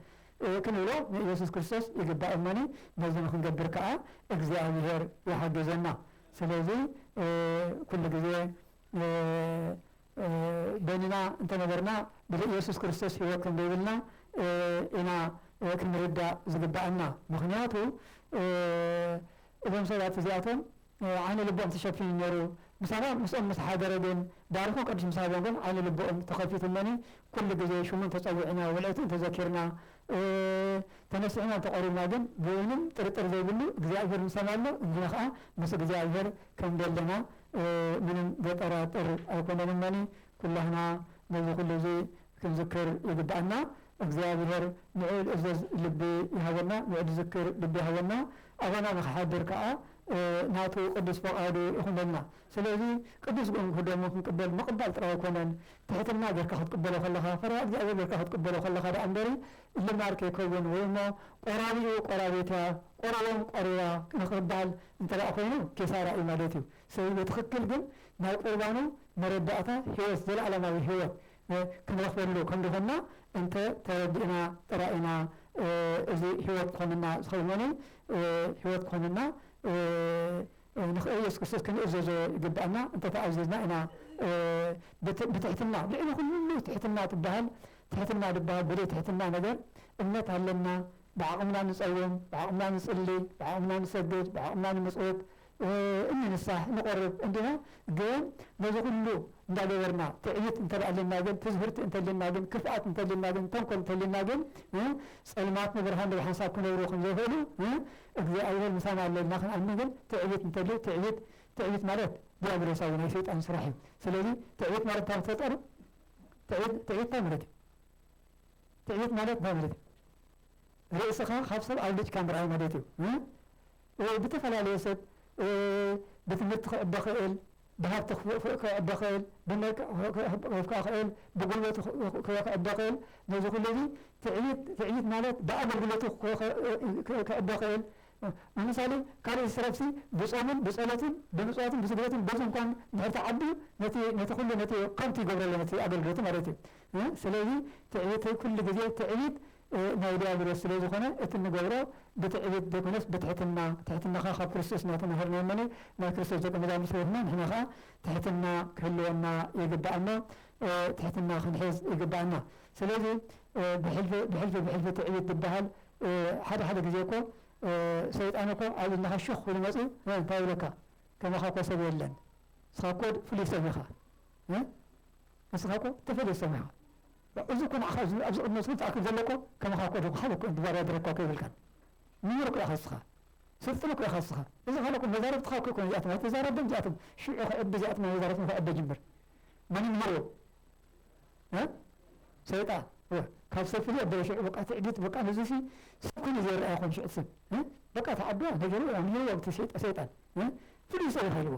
ክንብሎ ንኢየሱስ ክርስቶስ ይግባእ እሞኒ ነዚ ንክንገብር ከኣ እግዚኣብሔር ይሓግዘና ስለዚ ኩሉ ግዜ በይንና እንተነበርና ብዘይ ኢየሱስ ክርስቶስ ሕይወት ከምዘይብልና ኢና ክንርዳእ ዝግበኣና ምክንያቱ እዞም ሰባት እዚኣቶም ዓይኒ ልቦኦም ተሸፊኑ ነይሩ፣ ምሳና ምስኦም ምስ ሓደረ ግን ባርኹ ቅዱስ ምስ ሃቦም ግን ዓይኒ ልቦኦም ተኸፊቱ እሞኒ ኩሉ ግዜ ሽሙ እንተ ጸዊዕና ውዕለቱ እንተ ዘኪርና ተነሲሕና እንተ ቀሪብና ግን ብውንም ጥርጥር ዘይብሉ እግዚኣብሔር ምሳና ኣሎ ንሕና ከኣ ምስ እግዚኣብሔር ከም ደለና ምንም ዘጠራጥር ኣይኮነን እሞኒ ኩላህና ነዚ ኩሉ እዚ ክንዝክር ይግብኣና እግዚኣብሔር ንዑ ልእዘዝ ልቢ ይሃበና ንዑ ልዝክር ልቢ ይሃበና ኣባና ንክሓድር ከኣ ናቱ ቅዱስ ፈቃዱ ይኩነልና ስለዚ ቅዱስ ጎንኩ ደሙ ክንቅበል ምቅባል ጥራይ ኣይኮነን ትሕትና ገርካ ክትቅበሎ ከለካ ፈሪሃ እግዚኣብሔር ገርካ ክትቅበሎ ከለካ ደኣ እምበሪ ልማድ ከይከውን ወይ እሞ ቆራቢኡ ቆራቢትያ ቆርቦም ቆሪባ ንክባል እንተደኣ ኮይኑ ኪሳራ እዩ ማለት እዩ ስለዚ ብትክክል ግን ናይ ቁርባኑ መረዳእታ ህይወት ዘለኣለማዊ ህይወት ክንረኽበሉ ከም ዝኾንና እንተ ተረዲእና ጥራይ ኢና እዚ ሕይወት ክኾነና ዝኸእል ኖኖ ሕይወት ክኾነና ንኽእል የሱስ ክርስቶስ ክንእዘዞ ይግብኣና እንተ ተኣዚዝና ኢና ብትሕትና ልዕሊ ኩሉ ትሕትና ትበሃል ትሕትና ድበሃል ብደይ ትሕትና ነገር እምነት ኣለና ብዓቕምና ንጸውም ብዓቕምና ንጽሊ ብዓቕምና ንሰግድ ብዓቕምና ንምጽውት እኒ ንሳሕ ንቆርብ እንዲና ግን ነዚ ኩሉ እንዳ ገበርና ትዕቢት እንተ ኣልና ግን ትዝህርቲ እንተ ኣልና ግን ክፍኣት እንተ ኣልና ግን ተንኮል እንተ ኣልና ግን ጸልማት ንብርሃን ብሓንሳብ ክነብሩ ከም ዘይክእሉ እግዚኣብሔር ምሳና ኣሎ ኢልና ክንኣምን ግን ትዕቢት እንተ ኣሉ ትዕቢት ትዕቢት ማለት ዲያብሎሳዊ ናይ ሰይጣን ስራሕ እዩ ስለዚ ትዕቢት ማለት እንታይ ክትፈጠሩ ትዕቢት ትዕቢት እንታይ ማለት እዩ ትዕቢት ማለት እንታይ ማለት እዩ ርእስኻ ካብ ሰብ ኣብልጭካ ምርኣይ ማለት እዩ ብተፈላለየ ሰብ ብትምህርቲ ክዕቢ ይኽእል፣ ብሃብቲ ክዕቢ ይኽእል፣ ብመልክዕ ክዕቢ፣ ብጉልበቱ ክዕቢ ይኽእል፣ ነዚ ኩሉ እዚ ትዕቢት ትዕቢት ማለት ብኣገልግሎቱ ክዕቢ ይኽእል፣ ንምሳሌ ካልእ ዝትረፍሲ ብጾሙን ብጸሎቱን ብምጽዋቱን ብስግደቱን በዚ እንኳን እንድሕር ተዓብዩ ነቲ ነቲ ኩሉ ነቲ ከንቱ ይገብሮ ኣሎ ነቲ ኣገልግሎቱ ማለት እዩ ስለዚ ትዕቢት ኩሉ ግዜ ትዕቢት ናይ ድያብሎስ ስለ ዝኾነ እቲ እንገብሮ ብትዕቢት ዘይኮነስ ብትሕትና ትሕትና ከኣ ካብ ክርስቶስ ኢና ተማሂርናዮ እሞ ናይ ክርስቶስ ደቀ መዛሙር ስለ ዝኾና ንሕና ከኣ ትሕትና ክህልወና ይግብኣና ትሕትና ክንሕዝ ይግብኣና ስለዚ ብሕልፊ ብሕልፊ ብሕልፊ ትዕቢት ዝብሃል ሓደ ሓደ ግዜ እኮ ሰይጣን እኮ ኣብ እዝንኻ ሹኽ ክብሉ መጽዩ እንታይ ይብለካ ከማኻ እኮ ሰብ የለን ንስኻ እኮ ፍሉይ ሰብ ኢኻ ንስኻ እኮ ተፈልየ ሰብ ኢኻ እዚ እኮ ንዓኻ እዚ ኣብዚ ቅድሚ መስጊድ ትኣክል ዘለኩ ከማኻ እኮ ዶ ካልእ እኮ እዮም ብባርያ ድረግካ እኮ የብልካን ምሁር እኮ ኢኻ እስኻ ስልጡን እኮ ኢኻ እስኻ እዚ ካልእ እኮ መዛርብትኻ እኮ ኣይኮኑን እዚኣቶም ኣይትዛረብም እዚኣቶም ሽዑ ክዕቢ እዚኣቶም ናይ መዛርብቶም ክዕቢ ጅምር መን ይምህሮ እ ሰይጣ እ ካብ ሰብ ፍልይ ኣበለ ሽዑ በቃ ትዕቢት በቃ ንዚሲ ሰብ ኮይኑ ዘይረኣ ይኾን ሽዑ ሰብ እ በቃ ተዓብያ ነገርዋ ምሂርዋ ብቲ ሰይጣ ሰይጣን እ ፍሉይ ሰብ ኢኻ ኢልዎ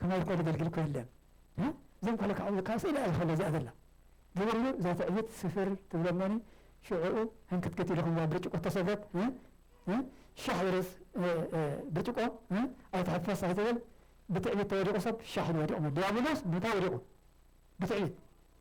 ከማይ እኮ ዘገልግል እኮ የለን እ እዞም ከሎ ካዕብሉ ካብ ስእሊ እያ ዝከሎ እዚኣ ዘላ ዝብሉ እዛ ትዕቢት ስፍር ትብሎ እሞኒ ሽዑኡ ህንክትክት ኢሉ ከምዛ ብርጭቆ እተሰብረት እ እ ሻሕ ዝርስ እ እ ብርጭቆ እ ኣይትሕፈስ ኣይትብል ብትዕቢት ተወዲቁ ሰብ ሻሕ ኢሉ ወዲቁ እሞ ድያብሎስ ምንታይ ወዲቁ ብትዕቢት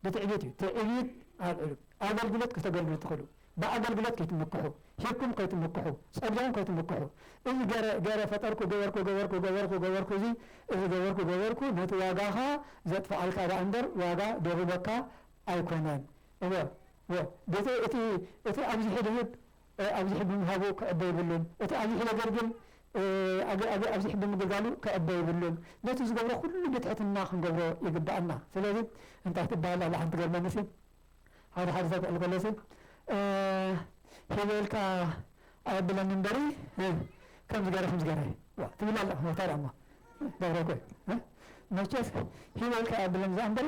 ብትዕቢት እዩ ትዕቢት ኣብዕሉ ኣገልግሎት ከተገልግሉ ትክእሉ ብኣገልግሎት ከይትምክሑ ሂብኩም ከይትምክሑ ጸጊዖም ከይትምክሑ እዚ ገረ ገረ ፈጠርኩ ገበርኩ ገበርኩ ገበርኩ ገበርኩ እዚ እዚ ገበርኩ ገበርኩ ነቲ ዋጋኻ ዘጥፍኣልካ ደኣ እምበር ዋጋ ደርበካ ኣይኮነን እወ እወ እቲ እቲ ኣብዚሑ ድህብ ኣብዚሑ ብምሃቡ ክዕበ ይብሉን እቲ ኣብዚሑ ዘገልግል ኣብዚሑ ብምግልጋሉ ክዕበ ይብሉን ነቲ ዝገብሮ ኩሉ ብትሕትና ክንገብሮ ይግበኣና ስለዚ እንታይ ትበሃል ኣላ ሓንቲ ትገርመኒ ሲ ሓደ ሓደ ሰብ ክዕል ከሎ ሲ ሂበ ኢልካ ኣየብለኒ እምበሪ ከምዚ ገረ ከምዚ ገረ ዋ ትብል ኣላ ታዲያ እሞ ገብረ ኮይ መቸስ ሂበ ኢልካ ኣየብለኒ ዘኣ እምበሪ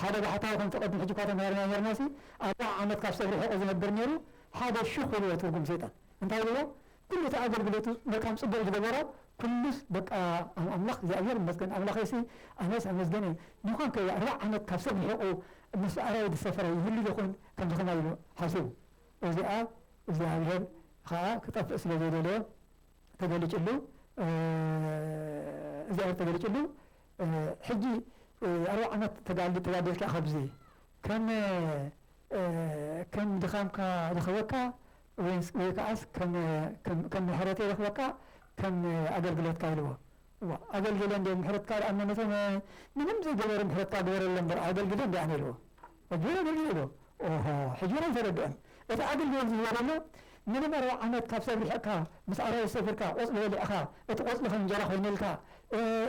ሓደ ባሕታዊ ከምቲ ቅድሚ ሕጂ እኳ ተማሂርናዮ ኔርናሲ ኣርብዓ ዓመት ካብ ሰብ ርሒቑ ዝነብር ኔሩ ሓደ ሹኽ ኢልዎ ትርጉም ሰይጣን እንታይ ኢልዎ ኩሉ እቲ ኣገልግሎቱ መልካም ጽቡቕ ዝገበሮ ኩሉስ በቃ ኣምላኽ እግዚኣብሄር ይመስገን ኣምላኸይሲ ኣነስ ኣመስገን እየ ኒዃን ከ ኣርብዓ ዓመት ካብ ሰብ ርሒቑ ምስ ኣራዊት ዝሰፈረ ይህሉ ዶኾን ከምዚ ከማይ ኢሉ ሓሲቡ እዚኣ እግዚኣብሄር ኸኣ ክጠፍእ ስለ ዘይደለዮ ተገሊጭሉ እግዚኣብሄር ተገሊጭሉ ሕጂ ኣርብዓ ዓመት ተጋድል ተጋዲልካ ካብዚ ከመ ከም ድኻምካ ረኽበካ ወይንስ ወይ ከኣስ ከመ ከም ከም ምሕረተይ ረኽበካ ከም ኣገልግሎትካ ኢልዎ ዋእ ኣገልግለ እንዴ ምሕረትካ ደኣ መነተ ምንም ዘይገበሩ ምሕረትካ ግበረሎም እምበር ኣገልግለ እንዴ ኣነ ኢልዎ ሕጂ ውን ርእዩ ኣሎ ኦሆ ሕጂ ውን ኣይተረደኦን እቲ ኣገልግሎት ዝህቦ ዘሎ ምንም ኣርብዓ ዓመት ካብ ሰብ ርሒቅካ ምስ ኣራዊት ሰፊርካ ቆጽሊ በሊዕኻ እቲ ቆጽሊ ከም እንጀራ ኮይንልካ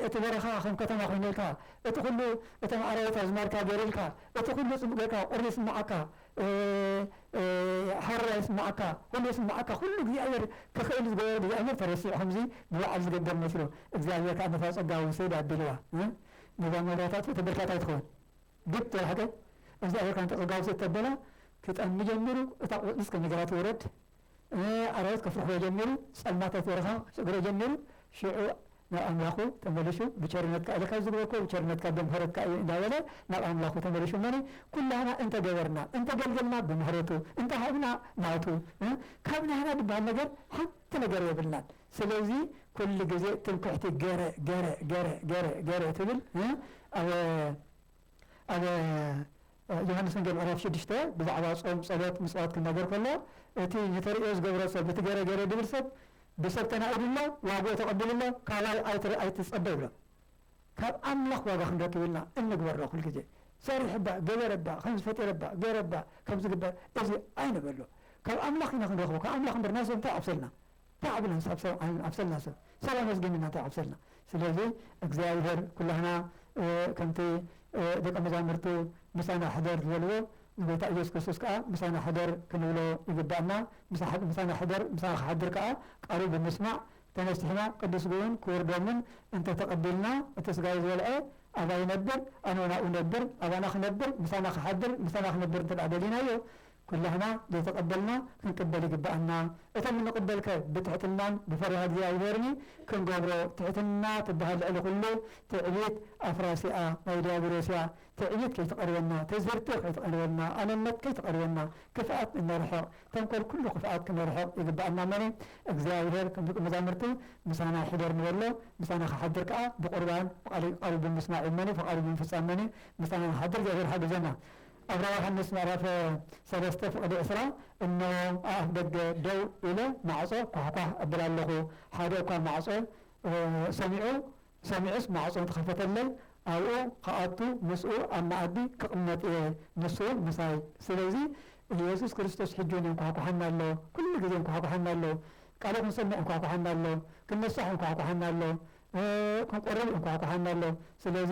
እቲ በረኻ ከም ከተማ ኮይንልካ እቲ ኩሉ እቶም ኣራዊት ኣዝማድካ ገርልካ እቲ ኩሉ ጽቡቅ ጌርካ ቁሪ ይስምዓካ ሓረራ ይስምዓካ ኩሉ ይስምዓካ ኩሉ እግዚኣብሔር ክክእል ዝገበሮ እግዚኣብሔር ተረሲዑ ከምዚ ንባዓል ዝገደም መስሎ እግዚኣብሔር ከኣ ነታ ጸጋ ውሰድ ኣቢልዋ ነዛ መብራታት እቲ ብርታት ኣይትኸውን ግድ ተባህገ እግዝኣብሔር ካንተ ጸጋው ስጥ ተበለ ክጠሚ ጀሚሩ እታ ቆጽሊ እስከ ነገራ ትወረድ ኣራዊት ከፍርሕዎ ጀሚሩ ጸልማት ኣብ በረኻ ክስዕግሮ ጀሚሩ ሽዑ ናብ ኣምላኹ ተመሊሱ ብቸርነትካ ኢለ ካብ ዝግበርክዎ ብቸርነትካ ብምሕረትካ እዩ እንዳበለ ናብ ኣምላኹ ተመሊሱ እመኒ ኩላህና እንተ ገበርና እንተ ገልገልና ብምሕረቱ እንተ ሃብና ናቱ ካብ ናህና ድበሃል ነገር ሓንቲ ነገር የብልናን ስለዚ ኩሉ ግዜ ትምክሕቲ ገረ ገረ ገረ ገረ ገረ ትብል እ ኣብ ኣብ ዮሃንስ ወንጌል ምዕራፍ ሽዱሽተ ብዛዕባ ጾም ጸሎት ምጽዋት ክናገር ከሎ እቲ ንተርእዮ ዝገብሮ ሰብ እቲ ገረ ገረ ድብል ሰብ ብሰብ ተናኢዱ ኣሎ ዋግኡ ተቐቢሉ ኣሎ ካባይ ኣይትር ኣይትጸበ ይብሎ ካብ ኣምላኽ ዋጋ ክንረክብ ኢልና እንግበሮ ኩሉ ግዜ ሰሪሕ እባ ገበረ እባ ከምዚ ፈጢረ እባ ገረ እባ ከምዚ ግበር እዚ ኣይንበሎ ካብ ኣምላኽ ኢና ክንረኽቦ ካብ ኣምላኽ እምበር ናይ ሰብ እንታይ ዓብሰልና ታዕብናስ ኣብ ሰብ ዓይን ኣብሰልና ሰብ ሰብ ኣመስጊንና እንታይ ኣብሰልና ስለዚ እግዚኣብሔር ኩላህና ከምቲ ደቀ መዛሙርቱ ምሳና ሕደር ዝበልዎ ንጎይታ ኢየሱስ ክርስቶስ ከኣ ምሳና ሕደር ክንብሎ ይግብኣና ምሳና ሕደር ምሳና ክሓድር ከኣ ቃሉ ብምስማዕ ተነሲሕና ቅዱስ ስግኡን ክቡር ደሙን እንተ ተቀቢልና እቲ ስጋይ ዝበልዐ ኣባይ ይነብር ኣነውን ኣብኡ እነብር ኣባና ክነብር ምሳና ክሓድር ምሳና ክነብር እንተ ደሊናዮ ኩላህና ዘይተቐበልና ክንቅበል ይግበኣና። እቶም እንቕበል ከ ብትሕትናን ብፈሪሃ እግዚኣብሔርኒ ክንገብሮ ትሕትና ትበሃል ልዕሊ ኩሉ ትዕቢት ኣፍራሲ እያ ናይ ድያብሎስ እያ ትዕቢት ከይትቐርበና ትዝብርቲ ከይትቐርበና ኣነነት ከይትቐርበና ክፍኣት እነርሕቕ ተንኮል ኩሉ ክፍኣት ክነርሕቕ ይግበኣና እሞኒ እግዚኣብሔር ከም ደቁ መዛሙርቲ ምሳና ሕደር ንበሎ ምሳና ክሓድር ከኣ ብቁርባን ቃሉ ብምስማዕ እሞኒ ፍቓዱ ብምፍጻም እሞኒ ምሳና ንክሓድር እግዚኣብሔር ይሓግዘና። ኣብራ ዮሃንስ ምዕራፍ ሰለስተ ፍቕዲ ዕስራ እነሆ ኣብ ኣፍ ደገ ደው ኢለ ማዕጾ ኳሕኳሕ እብል ኣሎኹ፣ ሓደ እኳ ማዕጾ ሰሚዑ ሰሚዑስ ማዕጾ እንተኸፈተለይ፣ ኣብኡ ኽኣቱ ምስኡ ኣብ መኣዲ ክቕመጥ እየ፣ ንሱውን ምሳይ። ስለዚ ኢየሱስ ክርስቶስ ሕጂውን የንኳሕኩሓና ኣሎ፣ ኩሉ ግዜ የንኳሕኩሓና ኣሎ፣ ቃሉ ክንሰምዕ የንኳሕኩሓና ኣሎ፣ ክንነሳሕ የንኳሕኩሓና ኣሎ፣ ክንቆርብ የንኳሕኩሓና ኣሎ። ስለዚ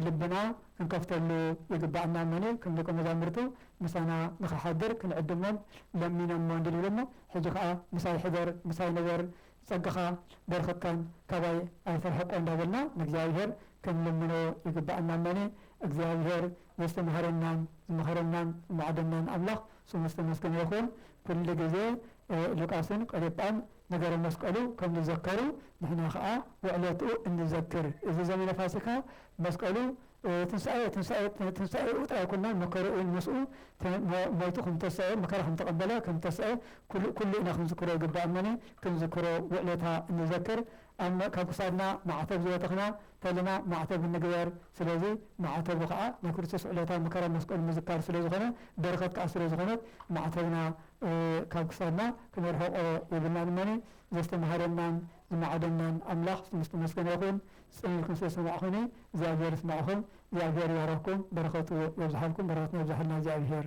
ልብና ክንከፍተሉ ይግባእና እሞኒ ከም ደቀ መዛሙርቱ ምሳና ንኽሓድር ክንዕድሞም ለሚነሞ እንዲል ይብለና። ሕጂ ከኣ ምሳይ ሕደር ምሳይ ንበር ጸጋኻ በረኸትካን ካባይ ኣይትርሕቆ እንዳበልና ንእግዚኣብሄር ክንልምኖ ይግባእና እሞኒ እግዚኣብሄር ዘስተምሃረናን ዝመኸረናን ዝማዕደናን ኣምላኽ ስሙ ዝተመስገነ ይኹን ኩሉ ግዜ ሉቃስን ቀሌጳን ነገረ መስቀሉ ከም ዝዘከሩ ንሕና ከኣ ውዕለትኡ እንዘክር። እዚ ዘመነ ፋሲካ መስቀሉ ትንሳኤ ትንሳኤ ትንሳኤኡ ጥራይ ኣይኮናን መከርኡውን ምስኡ ሞይቱ ከም ዝተሰኤ መከራ ከም ዝተቀበለ ከም ዝተሰኤ ኩሉ ኩሉ ኢና ክንዝክሮ ይግባእ እሞኒ ክንዝክሮ ውዕለታ እንዘክር ኣም ካብ ክሳድና ማዕተብ ዝበተኽና ተልና ማዕተብ እንግበር ስለዚ ማዕተቡ ከኣ ናይ ክርስቶስ ዕለታዊ መከራ መስቀሉ ምዝካር ስለ ዝኾነ በረኸት ከኣ ስለ ዝኾነት ማዕተብና ካብ ክሳድና ክነርሕቆ የብልናን እመኒ ዘስተምሃረናን ዝማዕደናን ኣምላኽ ስሙ ዝተመስገነ ይኹን ጽን ኢልኩም ስለ ዝሰማዕኹኒ እግዚኣብሄር ይስማዕኹም እግዚኣብሄር ይባርኽኩም በረኸቱ የብዝሓልኩም በረኸትና የብዝሓልና እግዚኣብሄር።